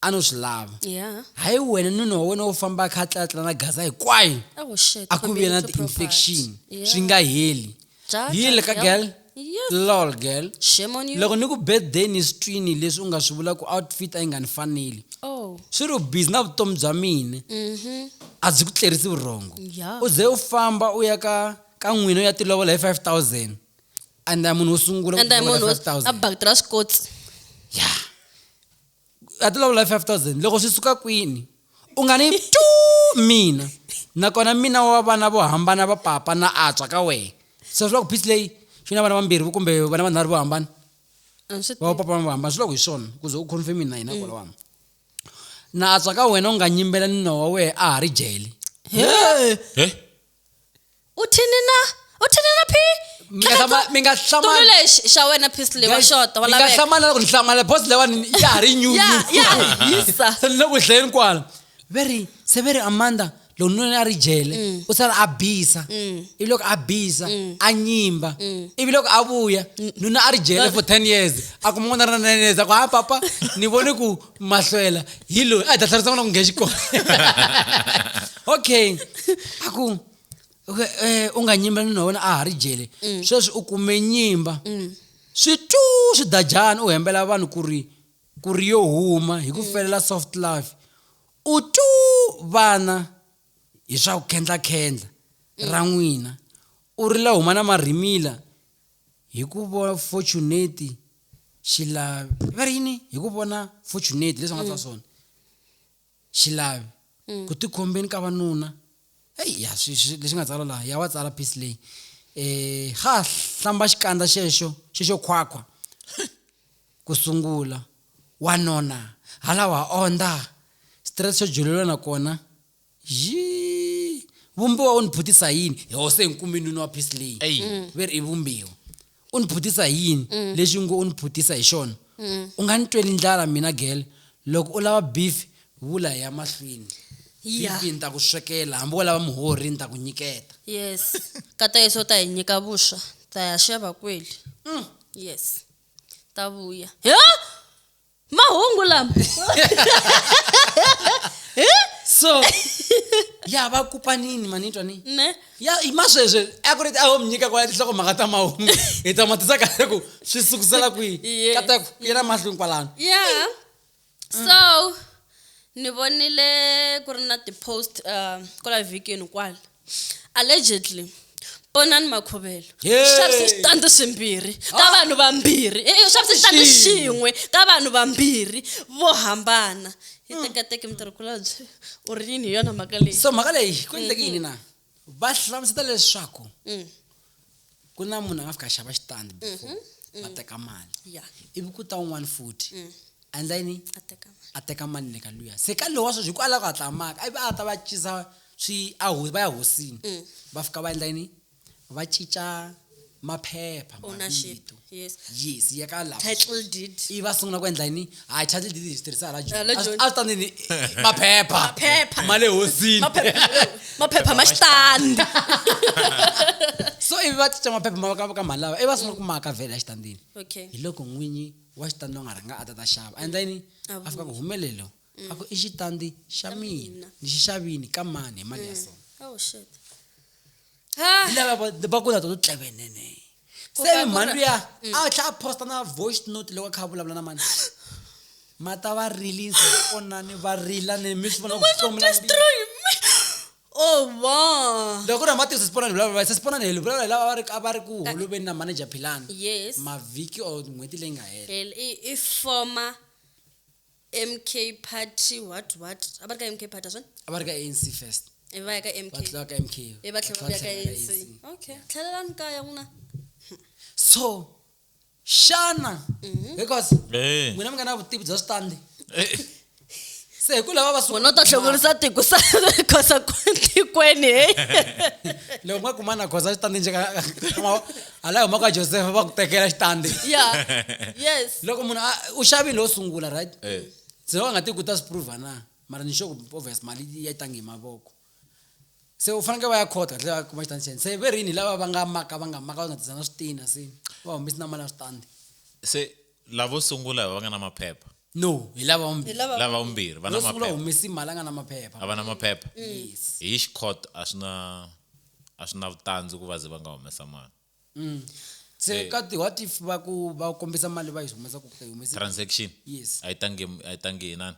S2: a no swi lava Yeah. hayi wena nuna wa wena wo famba a kha a tlatla na gaza hinkwayo Oh shit. a ku vi na community property. ti-infection Yeah. swi nga heli Ja, ja, yile ka ja. girl Yeah. lol girl Shame on you. loko ni ku birthday ni swi twini leswi u nga swi vula ku outfit a yi nga ni faneli Oh. swi ri busy na vutomi bya mina Mhm. a byi ku tlerisi vurhongo Yeah. u ze u famba u ya ka ka n'wina u ya tilovola hi 5000 and a munhu wo sungula and a munhu a
S1: bakitela swikotsi ya
S2: a tilovola hi 5000 loko swi suka kwini u nga ni tu mina nakona mina wa vana vo hambana va papa na atswa ka wena so swi loko phisi leyi xi na vana vambirhi kumbe vana vanharhu vo hambana va papa va hambana swi loko hi swona ku ze u confirm na hina kwala wami na atswa ka wena u nga nyimbela ni nowa wehe a ha ri jele
S1: u thini na u thini na phi mi nga hlama- mi nga
S2: xitulu hlamali lexi xa wena
S1: phisile wa xota wa mi nga laveka hlamala ku ni hlamala
S2: boss lewani ya ha ri nyu ya ya hisa
S1: se ni le ku dlayeni
S2: kwala ve ri se ve ri amanda loko nuna a ri jele u sala a bisa ivi loko a bisa a nyimba ivi loko a vuya nuna a ri jele for ten years a kuma n'wana ra nine years a ku ha papa ni vone ku mahlwela hi loyi a hi ta tlherisa n'wana ku nghena xikolo okay a ku okay, eh, u nga nyimba nuna wena a ha ri jele Mm. sweswi u kume nyimba swi tu swi dajana u hembela vanhu ku ri ku ri yo huma hi Mm. ku felela soft life u tu vana hi swa ku khendlakhendla ra n'wina u ri la huma na marhimila Hi ku vo fortunate xilavi va ri yini hi ku vona fortunate leswi va nga tsala swona xilavi ku tikhombeni ka vanuna eyi ya swi- swi- leswi nga tsala laha ya wa tsala piece leyi um ha hlamba xikandza xexo xexo khwakhwa ku sungula wanuna halawa ondza xitirese xo jululela nakona Yii, vumbiwa u ni phutisa hi yini yoho se hi kume nuna wa phisi leyi Eyi. Mm. ve ri i vumbiwa u ni phutisa hi yini Mm. lexi ngo u ni phutisa hi xona Mm. u nga ni tweli ndlala mina gele loko u lava beef vula hi ya mahlweni Yeah. beef ni ta ku swekela hambi wo lava muhorhi ni ta ku nyiketa yes
S1: ka ta yeso ta hi nyika vuswa ta ya xava kweli yes ta vuya he mahungu lama
S2: so ya va kupa nini manitwa ni ne ya i
S1: masweswe
S2: a ku ri ti a ho mi nyika kwala tinhloko mhaka ta mahungu hi ta matisa kahle ku swi sukusela kwihi Yeah. kata ku yena mahlweni kwalano yeah so
S1: ni vonile ku ri na ti-post uh, kwala vhikini kwala allegedly ponani makhovelo swi xavise switandi swimbirhi ka ah. vanhu vambirhi e swi xavise xitandi xin'we ka vanhu vambirhi vo hambana hi hmm. tekateke mutirhikulobye u ri yini hi yona mhaka leyi so mhaka leyi ku endleke
S2: yini na va hlamuseta leswaku hmm. ku na munhu a nga fika a xava xitandi before va teka mali ya ivi ku ta
S1: un'wana
S2: futhi a endla yini a teka
S1: mali a teka mali le ka
S2: luya se ka lowu wa sweswi hi ku ala ku hatla a maka ivi a ta va cinca swi a ho- va ya hosini va fika va endla yini va cinca maphepha Ownership. mavito
S1: yes
S2: yes ya ka
S1: lava
S2: title deed i va
S1: sungula ku endla yini
S2: hayi title deed hi swi tirhisa hala Hala joni a Joni. swi ta ndini maphepha Maphepha. ma le
S1: hosini
S2: maphepha maphepha
S1: ma xitandi
S2: so ivi va cinca maphepha ma va ka- ka mali lava i va sungula ku maka vhele ya xitandini okay hi loko n'winyi wa xitandi lowu nga rhanga a ta ta xava a endla yini A a fika ku humelelo a ku i xitandi xa mina mina. ni xi xavini ka mani hi mali ya so oh shit
S1: Ah.
S2: hi lava va- va ku na to tlevenene Ku se va ku mhandu ra- ya a tlha a posta na voice note loko a kha a vulavula na mani mata va release onani va rila ni mi swi vona ku hlomula mbilu. destroy me
S1: oh wow loko ku ri amatiso siponani
S2: vulavula se siponani helo vulavula hi lava va ri a va ri ku holoveni na manager philani yes mavhiki
S1: or
S2: n'hweti leyi nga hela Hell, i, i former
S1: mk party what what a va ri ka mk party swona a va ri ka anc first
S2: e va ya ka mk va
S1: tlula ka mk e va tlhela
S2: va
S1: ya ka
S2: tlhela ANC ANC.
S1: okay tlhelelani kaya n'wina so
S2: xana Mhm. because Eh. n'wina mi nga na vutivi bya switandi Eh, se hi ku lava va wena u ta hlongorisa
S1: tiko sa khosa tikweni he
S2: loko nga kumana goza xitandi njeka ala yi humaka josefa va ku tekela xitandi ya
S1: yes loko munhu a- u
S2: xavile wo sungula right Eh. se va nga ti ku ta swi prova na mara ni sure ku obvious mali ya tangi hi mavoko se u fanekele va ya court kahle va kuma xitandi xene se ve rini lava va nga maka va nga maka va nga tisa na switina se va humesi na mali ya switandi se
S4: lavo sungula hi va nga na maphepha no hi lava
S2: vumbirhi Hi lava- lava vumbirhi va na yo
S4: sungula maphepha humesi mali
S2: a
S4: nga na maphepha
S2: a va na maphepha
S4: yes hi
S2: xikhoto
S4: a swi na a swi na vutandzi ku va ze va nga humesa mali Mm.
S2: se Eh. ka ti what if va ku va kombisa mali va yi humesa ku ka yi humesi transaction yes a
S4: yi tangi
S2: a yi
S4: tangi hi nani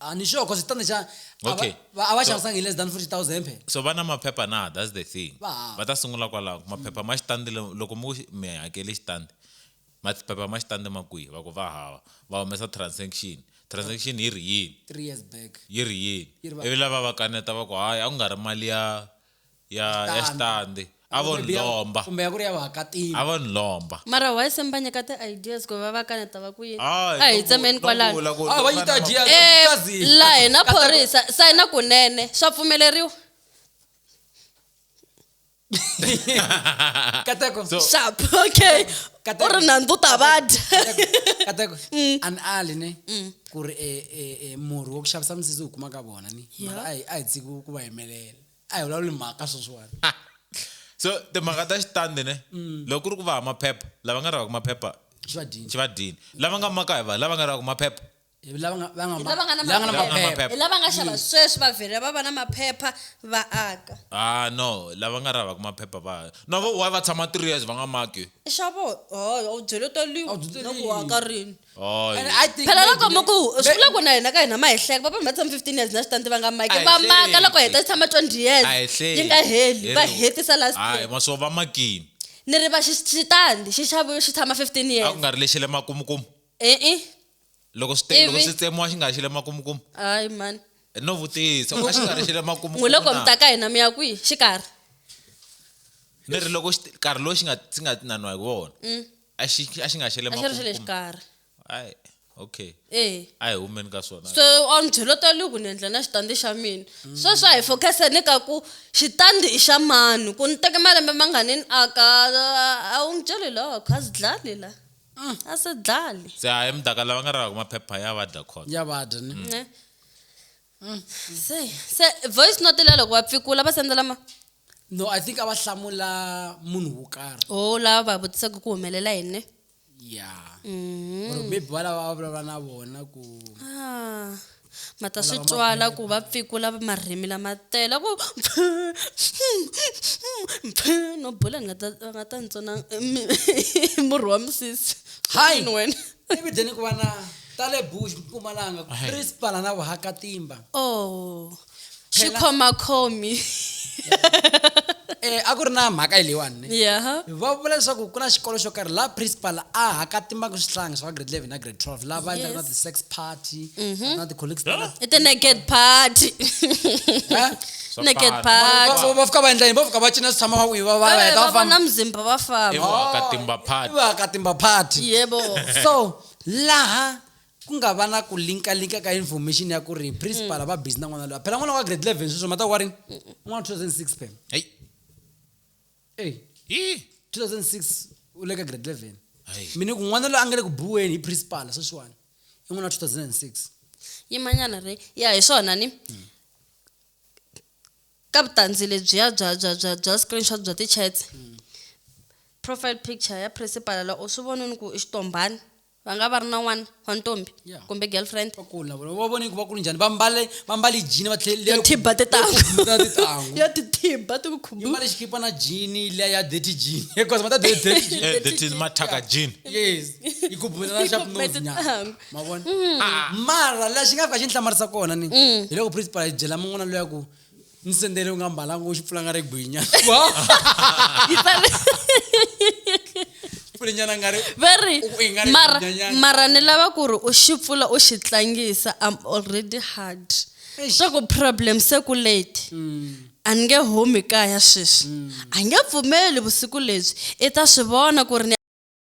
S4: Ah, ni sure cause
S2: standard xa a Okay. va- va- a va
S4: So- xavisanga hi
S2: less than 40000 phela so va na maphepha na
S4: that's the thing Va hava. va ta sungula
S2: kwalaho
S4: maphepha ma xitandi lo- loko mo xi- mi hakele xitandi maphepha ma xitandi ma kwihi va ku va hava va humesa transaction transaction yi ri yini 3 years back yi ri Yi
S2: ri yini
S4: va- ivi lava
S2: va
S4: kaneta
S2: va ku
S4: hayi a ku nga ri mali ya ya ya xitandi a vo ni lomba kumbe ya ku ri ya vaakatiko
S2: a vo ni lomba
S4: mara why se mi va nyika
S1: ti-ideas ku va va ka ni ta va ku yini Hayi, a hi no tsemeni vu- no
S4: kwalano
S1: vula ku-
S4: Ah,
S1: va yi
S4: ta
S1: dya-
S2: Eh, Kazi. la
S1: hina Kasi- phorisa sayina kunene swa pfumeleriwa
S2: kateko So- sharp
S4: okay
S1: Kata- u ri nandzu ta
S2: va
S1: dya kateko
S2: Mm. an ali ne ku ri eh, eh, eh, murhi wa ku xavisa misisi u kuma ka vona ni mara a hi a hi tshiki ku va yimelela a hi vulavuli mhaka sweswiwani so
S4: timhaka ta xitandi ne mm. loko ku ri ku va ha maphepha lava nga ravaka maphepha xi va
S2: dini lava nga
S4: maka hi va lava nga ravaka maphepha lava nga
S1: xava
S4: sweswi
S1: va vhele va va na maphepha va aka ah no
S4: lava nga ravaka maphepha va no vo wa va tshama three years va nga maki xavo
S1: u byele toliwa loko wa ka
S2: rini
S1: Hayi. And I think
S2: phela maybe loko le- muku swi may-
S1: vula ku na hina ka hina ma hi hleka va vanhu va tshama 15 years na swi tandi va nga maki A hi va maka hleki. loko hi
S4: ta tshama
S1: 20
S4: years
S1: A hi hleki. yi nga heli
S4: va
S1: Hello. hetisa last Hayi, year maswo va makini
S4: ni ri va xi-
S1: xitandi xi xaviwe xi tshama 15 a years ku nga ri lexi le
S4: makumukumu e-e
S1: loko swi te-
S4: loko Ivi? swi tsemiwa xi nga xi le makumukumu hayi mani
S1: no vutisa
S4: a xi nga ri xi le makumukumu n'wi loko na? mi ta ka
S1: hina
S4: mi ya
S1: kwihi xikarhi
S4: ni ri loko xi- nkarhi lowu xi nga xi nga nanwa hi wona a xi a xi nga xele a xi ri xa le xikarhi ai okay eh a hi
S1: humeni ka swona
S4: so a ni byela ta
S1: loko ni endla na xitandi xa mina sweswi a hi focus ni ka ku xitandi i xa mani ku ni teke malembe mangani ni aka a wu ni byeli loko a swi dlali la mm. a swi dlali se a emudaka lava
S4: nga ravaka maphepha ya vadya khona ya vadya ni mm.
S1: Mm. se se voice note leya loko va pfikula va sendela ma no i think
S2: a va hlamula munhu wo karhi o oh, lava va vutisaka
S1: ku humelela yini ya
S2: mm. or maybe va lava va vulavula na vona ku ah,
S1: ma ta swi twala ku va pfikula marimi lama tele ku no bula nga ta nga ta ntsona murhi wa misisi hi wena evidleni ku va na
S2: ta le bush mpumalanga principala na vuhakatimba oh
S1: swi Phela-
S2: khoma khomi eh a ku ri na mhaka yi leyiwani ne yeah va vula
S1: leswaku ku
S2: na xikolo xo karhi laha principal a hakatimbaka swihlangi swa grade 11 na grade 12 laha va endlaka na Yes. ti-sex party na ti-colleagues ta- i the naked
S1: party Eh? Swa naked fana. party Va- va fika va endla yini va fika
S2: va cina swi tshama va wiva va va Eh, heta va va famba vona mzimba va
S1: famba Ewa, ka timba party.
S4: va ka timba party
S2: yebo so laha ku nga va na ku linkalinka ka information ya ku ri principal va busy na n'wana loyi phela n'wana wa grade 11 sweswo mata wa rini n'wana 2006 phela Hey.
S4: eyi hi 2006
S2: u le ka grade 11 Hayi. mi ni ku n'wana
S4: loyi a nga le
S2: ku buweni hi principal sweswiwani i n'wana wa 2006 yimanyana
S1: re ya hi swona ni ka vutandzi lebyiya bya bya bya bya screenshot bya ti-chats profile picture ya principal la u swi vonini ku i xitombhani va nga va ri na n'wana wa ntombi Yeah. kumbe girlfriend
S2: va kula
S1: vona va vone
S2: ku va kulu njhani va mbale va mbale jini va tlhele yo thibha tintangu
S1: tintangu yo
S2: tithibha
S1: ti ku yi khumbu mbale xikipa na jini
S2: liya ya dirty jini because mata dirty dirty jini Eh, that is mathaka
S4: jean yes yi
S2: khubula na sharp Khubula nose nyana tintangu. ma vona
S1: Ah,
S2: mara la xi nga fika xi ni hlamarisa kona ni hiloko principal a yi byela mun'wana loya ku musendere unga mbalango uchipfulanga regwinya
S1: pfulenyana
S2: ngari very
S1: mara
S2: mara ni
S1: lava
S2: ku ri
S1: u xi pfula u xi tlangisa i'm already hard swa ku
S2: problem
S1: se ku late mm. a ni nge humi kaya sweswi mm. a nge pfumeli vusiku lebyi i ta swi vona ku ri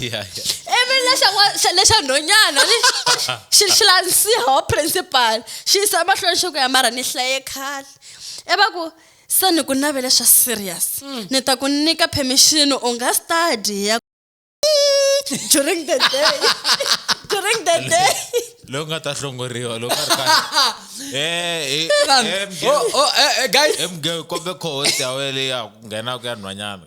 S1: ya ya ivi lexa n'wa- xa- lexa nhonyana ni- xi xi landzisiha wa principal xi yisa emahlweni xi ku ya mara ni hlaye khale i va ku se ni ku navele swa serious ni ta ku nyika permission u nga study ya during the day during the day loyi nga ta
S4: hlongoriwa loko a ri kahle Eh, eh, Vanhu. eh,
S2: mge- oh, oh, eh, eh, guys eh, mge- kombe
S4: cohost ya wena leyi ya ku nghena ku ya nhwanyana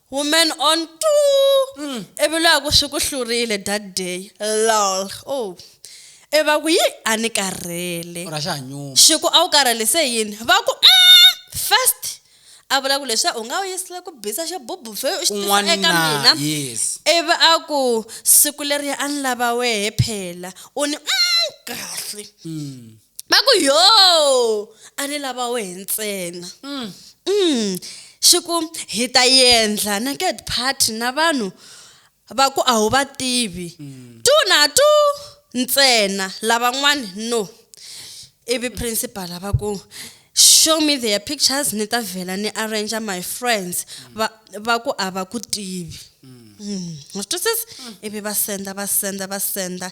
S1: Woman on two. Mm. Evelo aku swi ku hlurile that day. Lol. Oh. E va ku yi a ni karhele. Ora xa nyuma.
S2: Xiku a wu karhele
S1: se yini? Va ku mm, first a vula ku leswi u nga wu yisile ku bisa xo bubu fe u xi eka mina yes ivi
S2: a ku
S1: siku leriya a ni lava wehe phela u ni mm, kahle mm. va ku yo a ni lava wehe ntsena mm. Mm. xi ku hi ta yendla naked party na vanhu va ku a wu va tivi mm. tu na tu ntsena lavan'wana no ivi principal va ku show me their pictures ni ta vhela ni arrange my friends va va ku a va ku tivi mm. mm. wa swi twisisa ivi va senda va senda va senda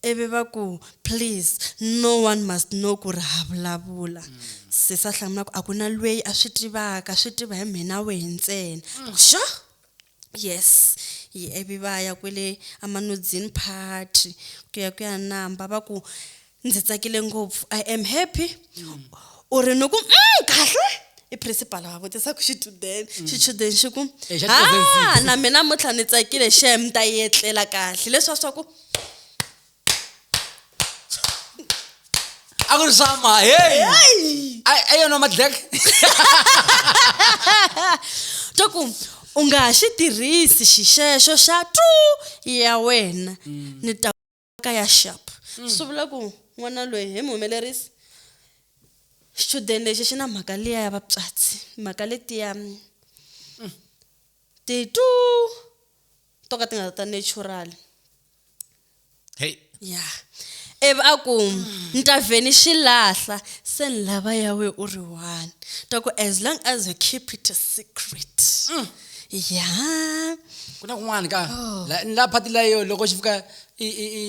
S1: Ivi va ku, Please, no one must know ku ri ha vulavula. Sesi a hlamula ku, A ku na lweyi a swi tivaka, swi tiva hi mhe na wehe ntsena. Va ku, Sure! Yes! Hi ivi va ya kwele eManudzini Party ku ya ku ya namba. Va ku, Ndzi tsakile ngopfu. I am happy. U ri ni ku, Umm, kahle? I principal a vutisa ku xichudeni. Xichudeni xi ku, Haa, na me namuntlha ni tsakile shame, ni ta yi etlela kahle. Leswiya swa ku.
S2: a ku ri swama hey A- a yona madlek
S1: to ku u nga ha xi tirhisi xixexo xa tu ya wena ni ta ka ya sharp swi vula ku n'wana loyi hi mu humelerisi xichudeni lexi xi na mhaka liya ya vapyatsi mhaka letiya mm, ti tu to ka ti nga ta natural
S4: hey ya
S1: ivi a ku ni ta vhe ni xi lahla se ni lava ya we u ri one ta ku as long as you keep it a secret mm. ya
S2: ku na kun'wana ka oh. la phati la yo loko xi fika i i i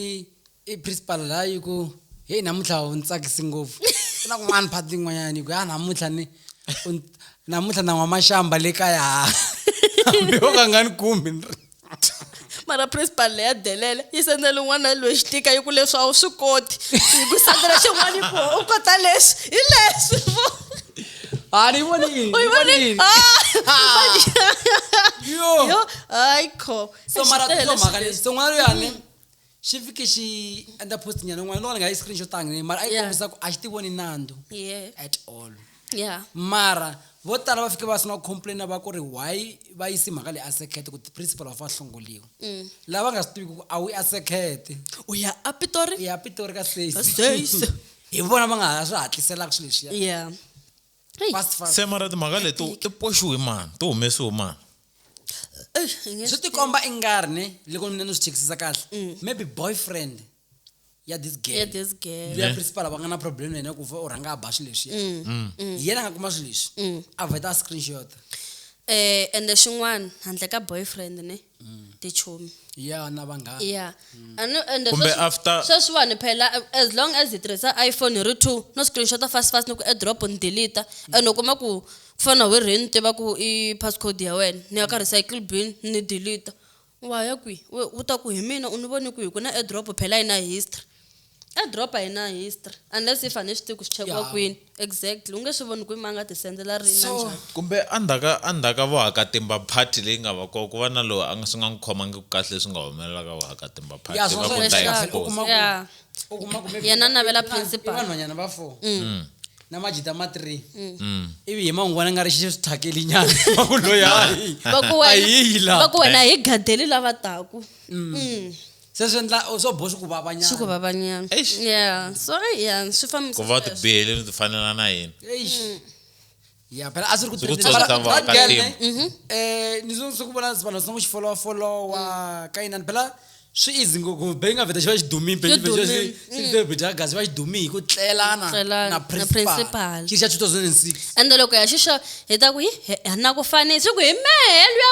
S2: i principal la yi ku heyi namuntlha u ni tsakisi ngopfu ku na kun'wana phati yin'wanyana yi ku ya namuntlha ni namuntlha na n'wamaxamba le kaya hambi yo ka nga ni kumbi ni ri
S1: mara principal leya delele yi sendela un'wana loyi xitika yi ku leswi a wu swi koti yi ku sendela xin'wana yi ku u kota leswi hi leswi
S2: a ni vonile u yi vonile
S1: yo hayi kho so mara so mhaka
S2: leswi so n'wana loyani xi fike xi endla post nyana yin'wana loko ni nga yi screenshotanga ni mara a yi Yeah. kombisa ku a xi ti voni nandzu yeah at all yeah mara vo tala va fike va sungula ku complaina va ku ri why va yisi mhaka leyi a sekete ku ti-principal va fa hlongoliwa Mm. lava nga swi tiviki ku a wu i a sekete u ya a
S1: pitori i ya pitori ka Ka
S2: Stacey. stacy hi vona va nga ha swi hatliselaka swilo leswiya yeah Hey. fast fast se mara timhaka
S4: leti to- ti poxiwe mani ti humesiwe mani Eish, i nge
S2: swi swi tikomba i nga ri ne loko mina ni swi chekisisa kahle maybe boyfriend ya this girl Yeah, this girl. loyi ya principal va nga na problem na yena ku fa u rhanga a ba swilo leswi yena a nga kuma swilo leswi a vheta a screenshot Eh,
S1: ende xin'wana handle ka boyfriend ne tichomi ya na
S2: vanghana ya and and
S1: Kumbe sweswi- after-
S4: sweswiwani phela
S1: as long as hi tirhisa iphone hi ri two no screenshota fast fast ni ku airdrop ni deleta and u kuma ku ku fana we rhe ni tiva ku i passcode ya wena ni ya ka recycle bin ni deleta wa ya kwi We- u ta ku hi mina u ni voni kwihi ku na airdrop phela yi na history e drop a yi na history unless if a ni swi tivi ku swi chekiwa Ya. kwini exactly u nge swi voni kwini ma nga tisendzela rini na So- njhani kumbe endzhaka
S4: endzhaka vuhakatimba party leyi nga va kona ku va na loyi a nga swi nga n'wi khomangi ku kahle leswi nga humelela ka vuhakatimba party Ya, va sweswo ku hi ta hi xikarhi, u force. kuma ku- Yeah. u kuma ku
S1: maybe- Yena a navela i vanhu- principal. i vanhwanyana va four
S2: na majita ma three ivi hi man'wana nga ri xi thyakeli nyana va ku loyi hayi va ku a hi yi
S1: wena laha va ku wena hi gadeli lava taku Mm.
S2: se swi endla swo boh swi ku vavanyana swi ku vavanyana
S1: Eish. yeah so ai yeah swi fambisa ku va u sweswo. tibihele ni
S4: tifanela na yini Eish.
S2: ya phela a swi ri ku Swi ku trending. tsakisa Mara va that ka girl, team. ne, Mhm. eh, ni zo swi ku vona vanhu sina ku xi followa followa Mm. ka yinani phela swi easy ngopfu be nga vheta xi va xi dumile be Xi dumile. xivheta gazi va xi dumile hi ku tlelana Tlelana na na principal principal. xi ri xa 2006 ende loko ya xixa
S1: hi ta ku hi hi- hi na ku fanisa hi ku hi mehe luya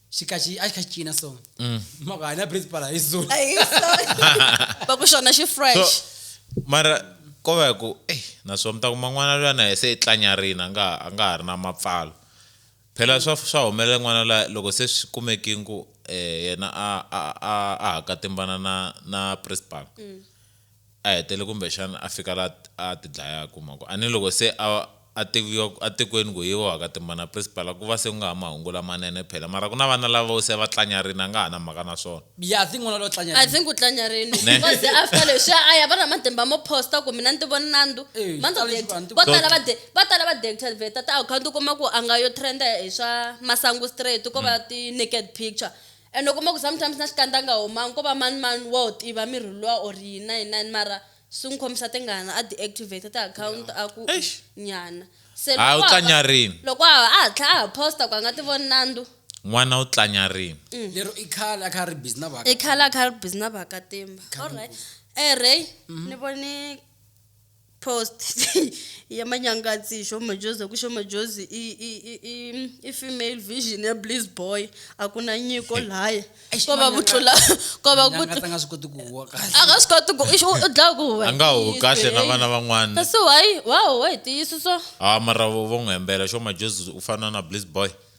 S2: xikaxi a xi kha xi cina so mm. mhaka hanya principal hi zulu
S1: va ku xona xi fresh mara
S4: ko va ku ey naswona mi ta kuma n'wana luya na se i tlanyarina a nga a nga ha ri na mapfalo phela swa swa humelela n'wana la loko se swi kumekini ku um yena a a a a hakatimbana na na principal mm. a hetele kumbexana a fika laha a a tidlaya ku mhako a ni loko se a a tiviwa a tikweni ku hi wa ka Timbana Principal ku va se ku nga ha mahungu lamanene phela mara ku na vana lava vo se va tlanyarini a nga ha na mhaka na swona. Yeah I think n'wana lo tlanya
S2: I think u tlanyarini
S1: Ne. because after leswiya a ya va na matimba mo poster ku mina ni ti vona nandzu Eh, swi manto tale swi va, ni ti- vo tala va de- vo tala va deactivate ti-account u kuma ku a nga yo trend hi swa masangu straight ko va ti naked picture And u kuma ku sometimes na xikandza a nga homangi ko va mani mani wa wu tiva mirhi luwa or yini na yini na yini mara swi n'wi khomisa tingana a deactivate ti-account a ku Eish. nyana se Hayi, u loko a tlanya va- rini.
S4: loko a a hatla
S1: a ha posta ku a nga ti voni nandzu N'wana u tlanya
S4: rini. lero i khale
S2: a kha a ri busy na vaka i khale a kha a ri busy na
S1: vakatimba Khale alright ngopfu. um ray ni vone post ya manyangatsi hi xomajozi hi ku xomajozi i, i, i, i, i female vision ya bliss boy a ku na nyiko laya Eish, ko va ku Manyanga- tlula ko va ku Nyangata nga swi koti ku huwa
S2: kahle a nga swi koti ku ixi
S1: u dlaya ku huwa a nga ho kahle na
S4: vana van'wana kasi wayi wa
S1: huwa hi tiyisiso a mara vo vo
S4: n'wi hembela xo majozi u fana na bliss boy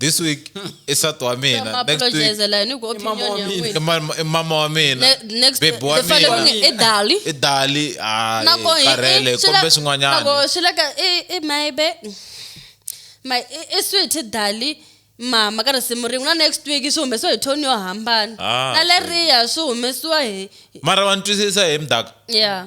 S4: this week hmm. i sati wa mina next week i mama wa mina bebi wa
S1: mina
S4: i dali i dali karele kumbe swin'wanyana swi leka
S1: i maybe my i sweet dali mama ka risimu rin'we na next week swi humesiwa hi toni yo hambana ah, na leriya swi humesiwa hi mara wa ni twisisa
S4: hi mdaka ya yeah.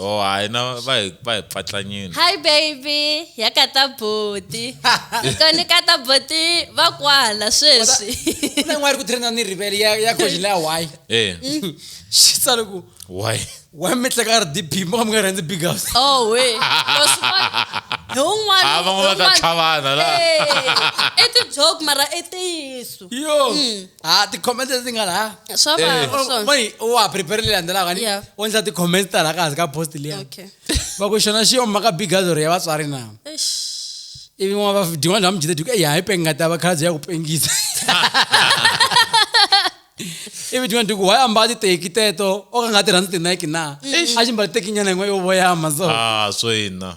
S2: oh hayi na va hi
S4: va hi pfatlanyini hi baby
S1: ya ka ta boti koni ka ta boti va kwala sweswi na yin'wana ri ku tirhina
S2: ni rivele ya ya khoji leya why eh xi tsale ku why why mi tleka ri dp mo ka mi nga rhandzi big house oh we
S1: hi un'wana
S4: ah, va nga va ta tlhavana la i ti
S1: joke mara i tiyiso yo mm.
S2: ha ti-comments leti nga laha swa Eh. vava Oh, swona
S1: mani u wa prepare
S2: leyi landzelaka ni Yeah. u endla ti-comments ta laha ka hansi ka post liya okay va ku
S1: xona xi
S2: yoma ka bigazoro ya vatswari na Eish. ivi n'wana va din'wana bya mujita diku eya hi pengata va khalabye ya ku pengisa ivi din'wana diku why ambala titeki teto o ka nga tirhandzi tinike na a xi mbala teki nyana yin'we yo voyama so ah so ina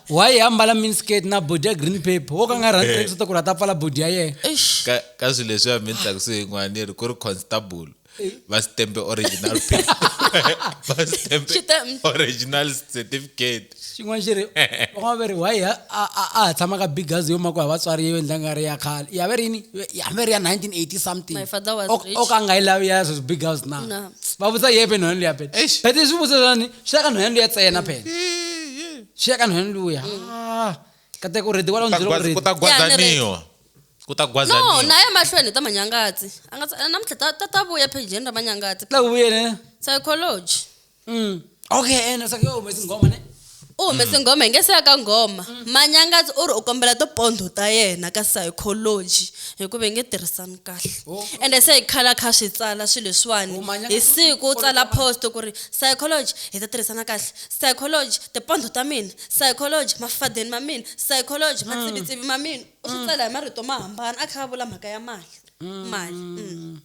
S2: why a mbala minsket na body ya green paper wo ka nga rhandzi eh. leswaku ri a ta pfala body ya yena ka swilo leswi ya mi
S4: tlaku swi yin'wana yi ri ku ri constable eh. va sitembe original paper va sitembe original certificate xin'wana xi ri
S2: van'wana va ri why a ha tshama ka big gazi yo ma ku ha vatswari yo endla nga ri ya khale ya ve rini ya ve ri ya 1980 something o ka
S1: nga yi lavi ya sweswi
S2: big house na va vutisa yepe nhwanyana luya phela phete swi vutisa swani swi ya ka nhwanyana luya tsena phela swi ya ka nhwani luya ah, kateka u rhedi wala u Ku ta byela ku gwaza- rhedi ku ta gwazaniwa
S4: ku ta no gwazaniwa naye mahlweni
S1: ta manyangatsi a nga tsa- namuntlha ta- ta ta vuya phejeni ra manyangatsi la ku vuyene
S2: psychology
S1: Mm.
S2: okay ene sake yo humesi nghoma ne u humese nghoma
S1: hi nge se ya ka nghoma manyangatsi u ri u kombela tipondho ta yena ka psychology hikuva hi nge tirhisani kahle Oh. ende se hi khala kha swi tsala swilo leswiwani Oh, Manyangatsi hi u- siku u u- tsala post ku ri psychology hi ta tirhisana kahle Psychology, Tipondho ta mina. Psychology, Mafadeni ma mina. Psychology, Matsivitsivi ma mina. U swi tsala hi marito mo hambana a kha a vula mhaka ya mali. Mali. Mm.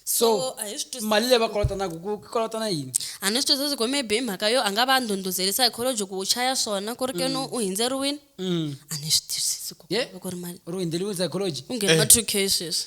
S2: So, So, a hi swi twisisi mali leyi va ku- kolotanaka ku ku kolotana yini a ni swi twisisi ku maybe
S1: hi mhaka yo a nga va a ndhundhuzeli psychology ku u chaya swona ku ri ke no u hindzeriwile Mm. a ni swi twisisi ku Ye? ku ri mali ri hundzeliwe psychology
S2: u nghene ka two k
S1: sweswi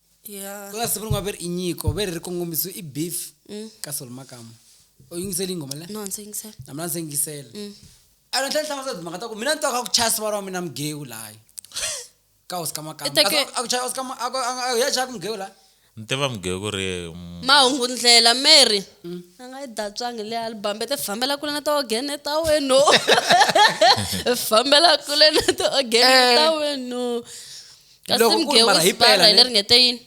S2: ya
S1: ku la siku rin'wana ve ri i
S2: nyiko ve ri ri kongomisiwe i beef ka solo makamu u yingiseli nghoma le no ndzi yingisela na mina ndzi
S1: yingisela
S2: a ni tlhela hlamusela timhaka ta ku mina ni twa ka ku chaya sivara wa mina mugewu laha ka hosi ka makamu Ita ke- Kasi a ku chaya hosi ka ma- a ku- a ku- a ku- ya chaya ku mugewu laha ni tiva mugeyo ku
S4: ri mm, mahungu ndlela
S1: mary a nga yi datswangi le album te fambela kule na tiogene ta wenu fambela kule na tiogene ta wenu kasi Loko ku ri mgewu mara hi isibara pela hi ne? leri nge te yini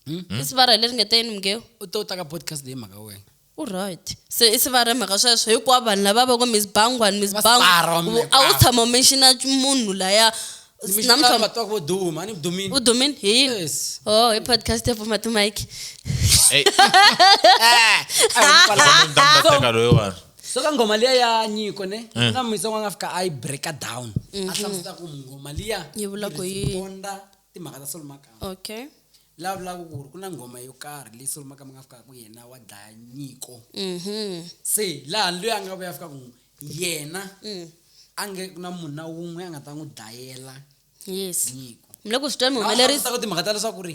S1: Hmm? isibara hi leri nge te yini mgewu u to ta ka podcast
S2: leyi mhaka wena u right se
S1: i sivara hi mhaka sweswo hinkwavo vanhu lava va ku miss bangwani miss Vasibara, bangwa mi- a wu tshama u menxina munhu laya namuntlha namuntlha
S2: vo duma ni dumini u dumini hi yini Yes.
S1: o hi podcast ya pfuma timike Ey, Ah, munhu
S2: ta mu ta teka loyiwani so ka nghoma liya ya nyiko ne Eh. na misa n'wana a fika a yi breaka down a hlamuseta ku nghoma liya Mhm. Yi vula ku yi yini?
S1: responda timhaka ta
S2: solomakama okay la
S1: vulaka ku
S2: ri ku na nghoma yo karhi leyi solomakama nga fikaka ku yena wa dlaya nyiko mhm se laha loyi a nga vuya fika ku yena Mm. a nge ku na munhu na wun'we a nga ta n'wi dlayela yes
S1: nyiko mi le ku swi
S2: tweni mi humelerisa
S1: ta ku timhaka ta leswaku ri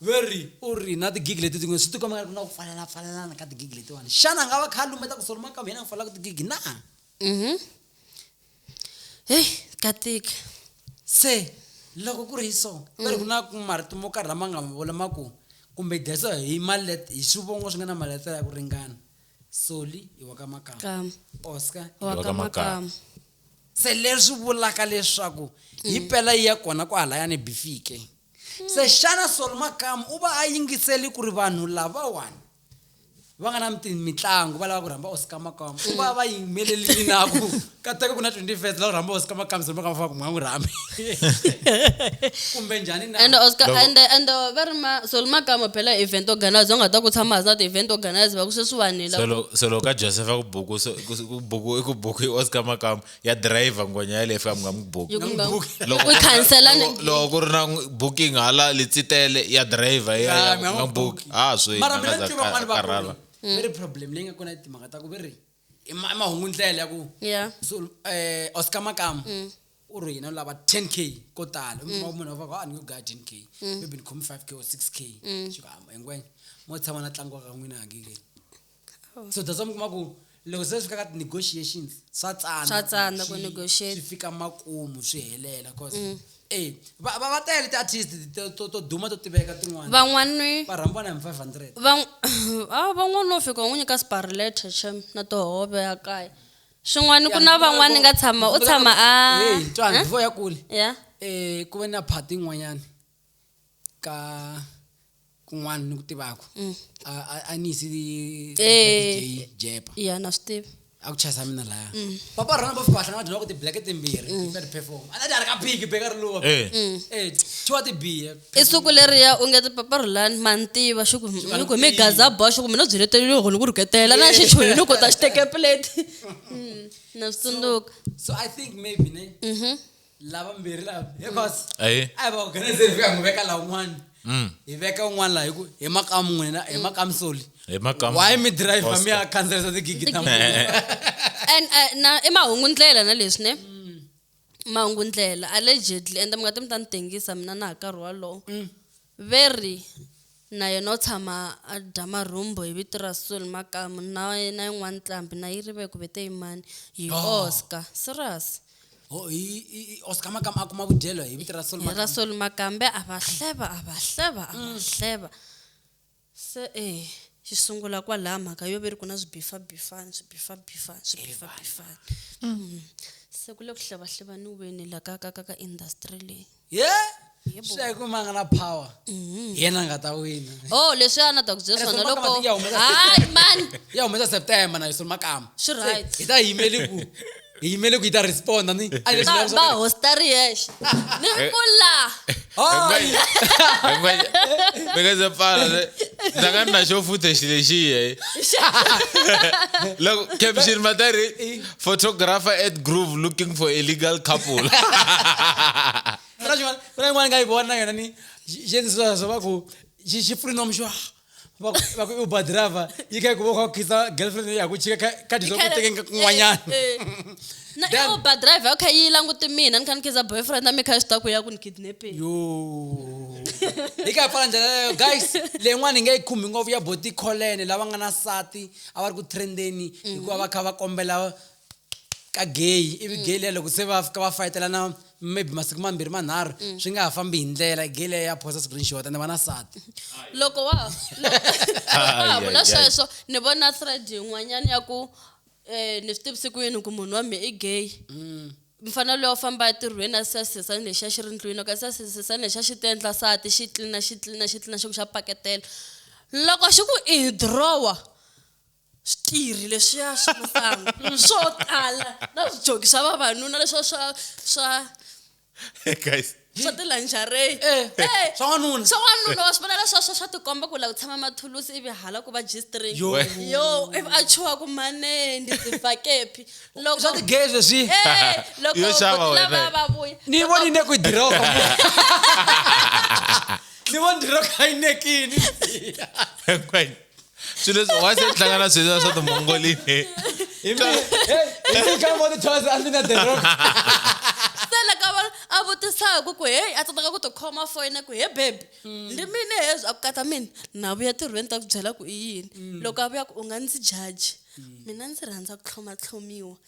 S2: veri u ri na tigigi leti tin'we swi tikoma nga ri na ku fanelana fanelana ka tigigi letiwani xana a nga va kha a lumbeta ku solomaka mina a fanelaka tigigi na mhm
S1: heyi ka tika se
S2: loko ku ri hi so va ri ku na ku marito mo karhi lama nga ma vula ma ku kumbe desa hi malet hi swivongo swi nga na maletela ya ku ringana soli i wa ka makama kama oscar
S1: Wa wa ka ka
S2: makama makama.
S1: se
S2: leswi vulaka leswaku hi mm. pela yi ya kona kwahalaya ni bifike mm. se xana solomakamu u va a yingiseli ku ri vanhu lavawani va nga na mitlangu va lava ku rhamba oscar makamu u va va yimeleli inaku kateka ku na twenty first lava rhamba oscar makamu se makamu faka mwa n'wi rhambi kumbe njhani na and oscar and and
S1: va ri ma solo makamu phela event organizer u nga ta ku tshama hasa ti-event organizer va ku sweswiwanile solo solo ka joseph a
S4: ku buku i ku buku i oscar makamu ya driver ngwenya yaleyo fika mi nga n'wi buki
S1: loko ku ri na
S4: booking hala litsitele ya driver ya nga buki a ah, swi mara mina tiva vanhu va
S2: karhala mm. very problem leyi nga kona i timhaka ta ku ve ri i mahungu ndlela ya ku so
S1: eh oscar
S2: makamu mm. u ri hina lava 10 k ko tala mm. munhu munhu va ka a ah, ni yo ga 10 k maybe ni khomi 5 k or 6 k xi ka hamba engwenya mo tshama na tlangiwa ka n'wina hakikeni so that's why mi kuma ku loko se swi fika ka ti-negotiations swa tsana Swa tsana ku swi-
S1: negotiate. swi fika makumu
S2: swi helela cause Mm. e va va- va tele ti-artist to- to- to duma to tiveka tin'wana van'wani va rhambiwa
S1: na hi five
S2: hundred van- a
S1: van'wani no fika u n'wi nyika sparleta xem na tihove ya kaya swin'wani ku na van'wani ni nga tshama u tshama a Hey, Ntwana, Eh? before
S2: ya kule ya um
S1: ku ve na
S2: phati yin'wanyani ka kun'wana ni ku tivaka a a- a ni yisi Eh. jepa ya na swi tivi
S1: a ku chayisa mina
S2: laya papa rona va fika va hlangana dyonaka ti-black timbirhi ti-third perform a ta dyarhi ka phiki beka ri luwa Eh. eh thiwa tibiya i siku leriya u
S1: nge tipaparulani ma ni tiva xi ku ni ku hi mi gaza bo xi ku mina u byi letelile ku ni ku rhuketela na xi chuhi ni ku ta xi teke plate Mm, na swi tsundzuka so i think
S2: maybe ne Mhm. lava mbirhi lava hinkwaswo Ahee. a hi va organizer
S4: hi fika hi
S2: n'wi veka laha un'wana Mm. hi veka un'wana laha hi ku hi makamu n'wina hi makamu soli Hi makamu. why mi
S4: drive Costa. mi ya
S2: khandziyisa tigigi ta n'wina and uh,
S1: na i mahungu ndlela na leswi ne mahungu ndlela allegedly ende mi nga ti mi ta ni tengisa mina na ha karhi walowo Veri, na yena u tshama a dya marhumbu hi vito ra Soul Makamu na na yin'wana nqambi na yirive ku vete yimani hi Oh. Oscar. Serious. Ho, hi, hi,
S2: hi Oscar Makamu a kuma vudyelo hi vito ra Soul Hi ra Makamu. Soul Makambe
S1: a va hleva a va hleva a va hleva. Se e, xi sungula kwalaya mhaka yo ve ri ku na swibifabifani, swibifabifani, swibifabifani. Mm. Se ku le ku hlavahlivaniweni la ka, ka, ka, ka industry leyi. ye Yebo. swi
S2: ya hi ku ma nga na power hi yena a nga ta wina Oh, leswi a na ta ku
S1: byela Ene swona Solomaka loko. mati ya humesa Hayi,
S2: man!
S1: ya humesa september
S2: na yisolo makama Swi right. hi ta
S1: yimeli ku
S2: hi yimele ku yi ta responda ni a leswi va va va hosta
S1: ri yexe ni ri ku la
S4: mi nga se pfala se- ndza nga ri na xo futhe xi lexiye loko caption matari photographer at groove looking for a legal couple kuna
S2: xin'wana kuna yin'wana nga yi vona na yona ni xi endlisiwa swo va ku xi xi pfulinomi xo vakuuber driver yi kha yi ku va kha khisa girlfriend ya ku chika ka dyi swaku teke nga kun'wanyana
S1: eh, eh. na i uber driver u kha yi languti mina ni kha ni khiza boyfriend na mi kha swi ta ku ya ku ni kidnapping yo
S2: hi kha hi pfala ndlela leyo guys leyin'wana hi nga yi khumbi ngopfu ya boti kholene lava nga na sati a va ri ku trendeni hikuva va kha va kombela ka gay ivi gay liya loko se va fika va fayetelana maybe masiku mambirhi manharhu mm. swi nga ha fambi hi ndlela gay liya ya phosa siku rinxiwata ni va na sati loko wa
S1: ha vula sweswo ni vona thread yin'wanyana ya ku um ni swi tivisiku yini ku munhu wa mi i gay mm. mfanelo loyi u famba etirhweni a sasisesana lexiya xi ri ndlwini loko a sasisesana lexiya xi ti endla sati xi tlina xi tlina xi tlina xi ku xa paketela loko xi ku i hi drowa switirhi leswiya swa masangu swo tala na swijoki swa vavanuna leswiya swa swa
S4: guys swa
S1: tilanjarey eh, eh, swa
S2: n'wanuna swa n'wanuna wa swi vona leswiya
S1: swa swa tikomba ku la ku tshama mathulusi ivi hala ku va g-string yo
S4: ivi a
S1: chuha ku mane ndi tifakepi loko swa tigay leswi eh,
S2: loko Yo
S1: xava wena. lava
S4: va vuya
S1: ni
S4: voni ne
S1: ku
S2: diroka ni voni diroka yi nekini
S4: She doesn't. Why is it Tlangana Switzerland so the Mongolian? Hey,
S2: you come on the
S1: toys
S2: and then the room. sela ka vona
S1: a
S2: vutisaka
S1: ku heyi a tsandzaka ku tikhoma foyina ku he bebi ndi mina hezwi a ku katsa mina na vuya tirhweni ta ku byela ku i yini loko a vuya ku u nga ndzi jaji mina ndzi rhandza ku tlhomatlhomiwa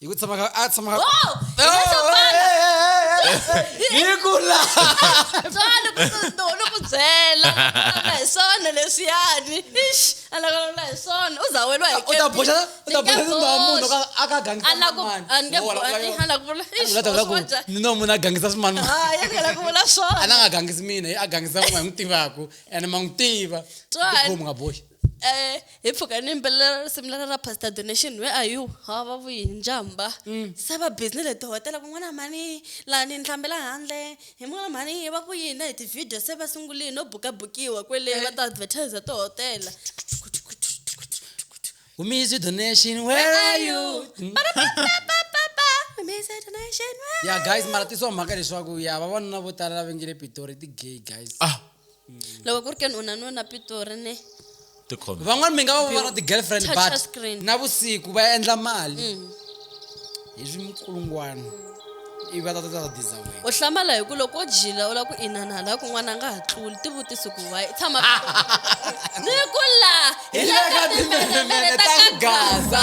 S2: Hi ku tshama ka a tshama ka Oh, hi na swo pfala. Hi ku la.
S1: Tswalo ku no no ku byela. Ala hi swona leswiyani. Ish, ala ku la hi swona. U za wela hi U ta boxa u ta boxa
S2: tindhawu munhu ka a ka gangi. Ala ku ange ala ku vula. Ish,
S1: Vula ta vula ku swona njhani? ni no munhu a gangisa
S2: swimani. Ah, ya ngela ku vula
S1: swona. A na nga gangisi mina, a
S2: gangisa n'we n'wi tivaku and ma n'wi tiva. Tswalo. Tikhomi nga boxi. Eh, hi mpfhuka
S1: ni yimbelela risimu leri ra pastor donation where are you ha va vuyi hi njhamba se va busy ni le tihotela ku n'wana mhani laha ni ni hlambela handle hi n'wana mhani va ku yini na hi ti-video se va sungulini no bukabukiwa kwele va ta advertiser tihotela
S2: humisi donation where are you Mm. ya guys mara tisiwa mhaka leswaku ya vavanuna vo tala lava nge le pitori ti-gay guys ah loko
S1: ku ri ke ni u na nuna pitori ne tikhomba van'wani
S2: mi nga va va na ti-girlfriend Touch but a screen. na vusiku va endla mali hi swikulungwana ivi va ta ta ta diza wena u hlamala hi ku loko
S1: wo jila u lava ku inana laha kun'wana a nga ha tluli ti vutisi ku wayi i tshama ni ku la
S2: hi le ka timbelemele ta ka
S1: gaza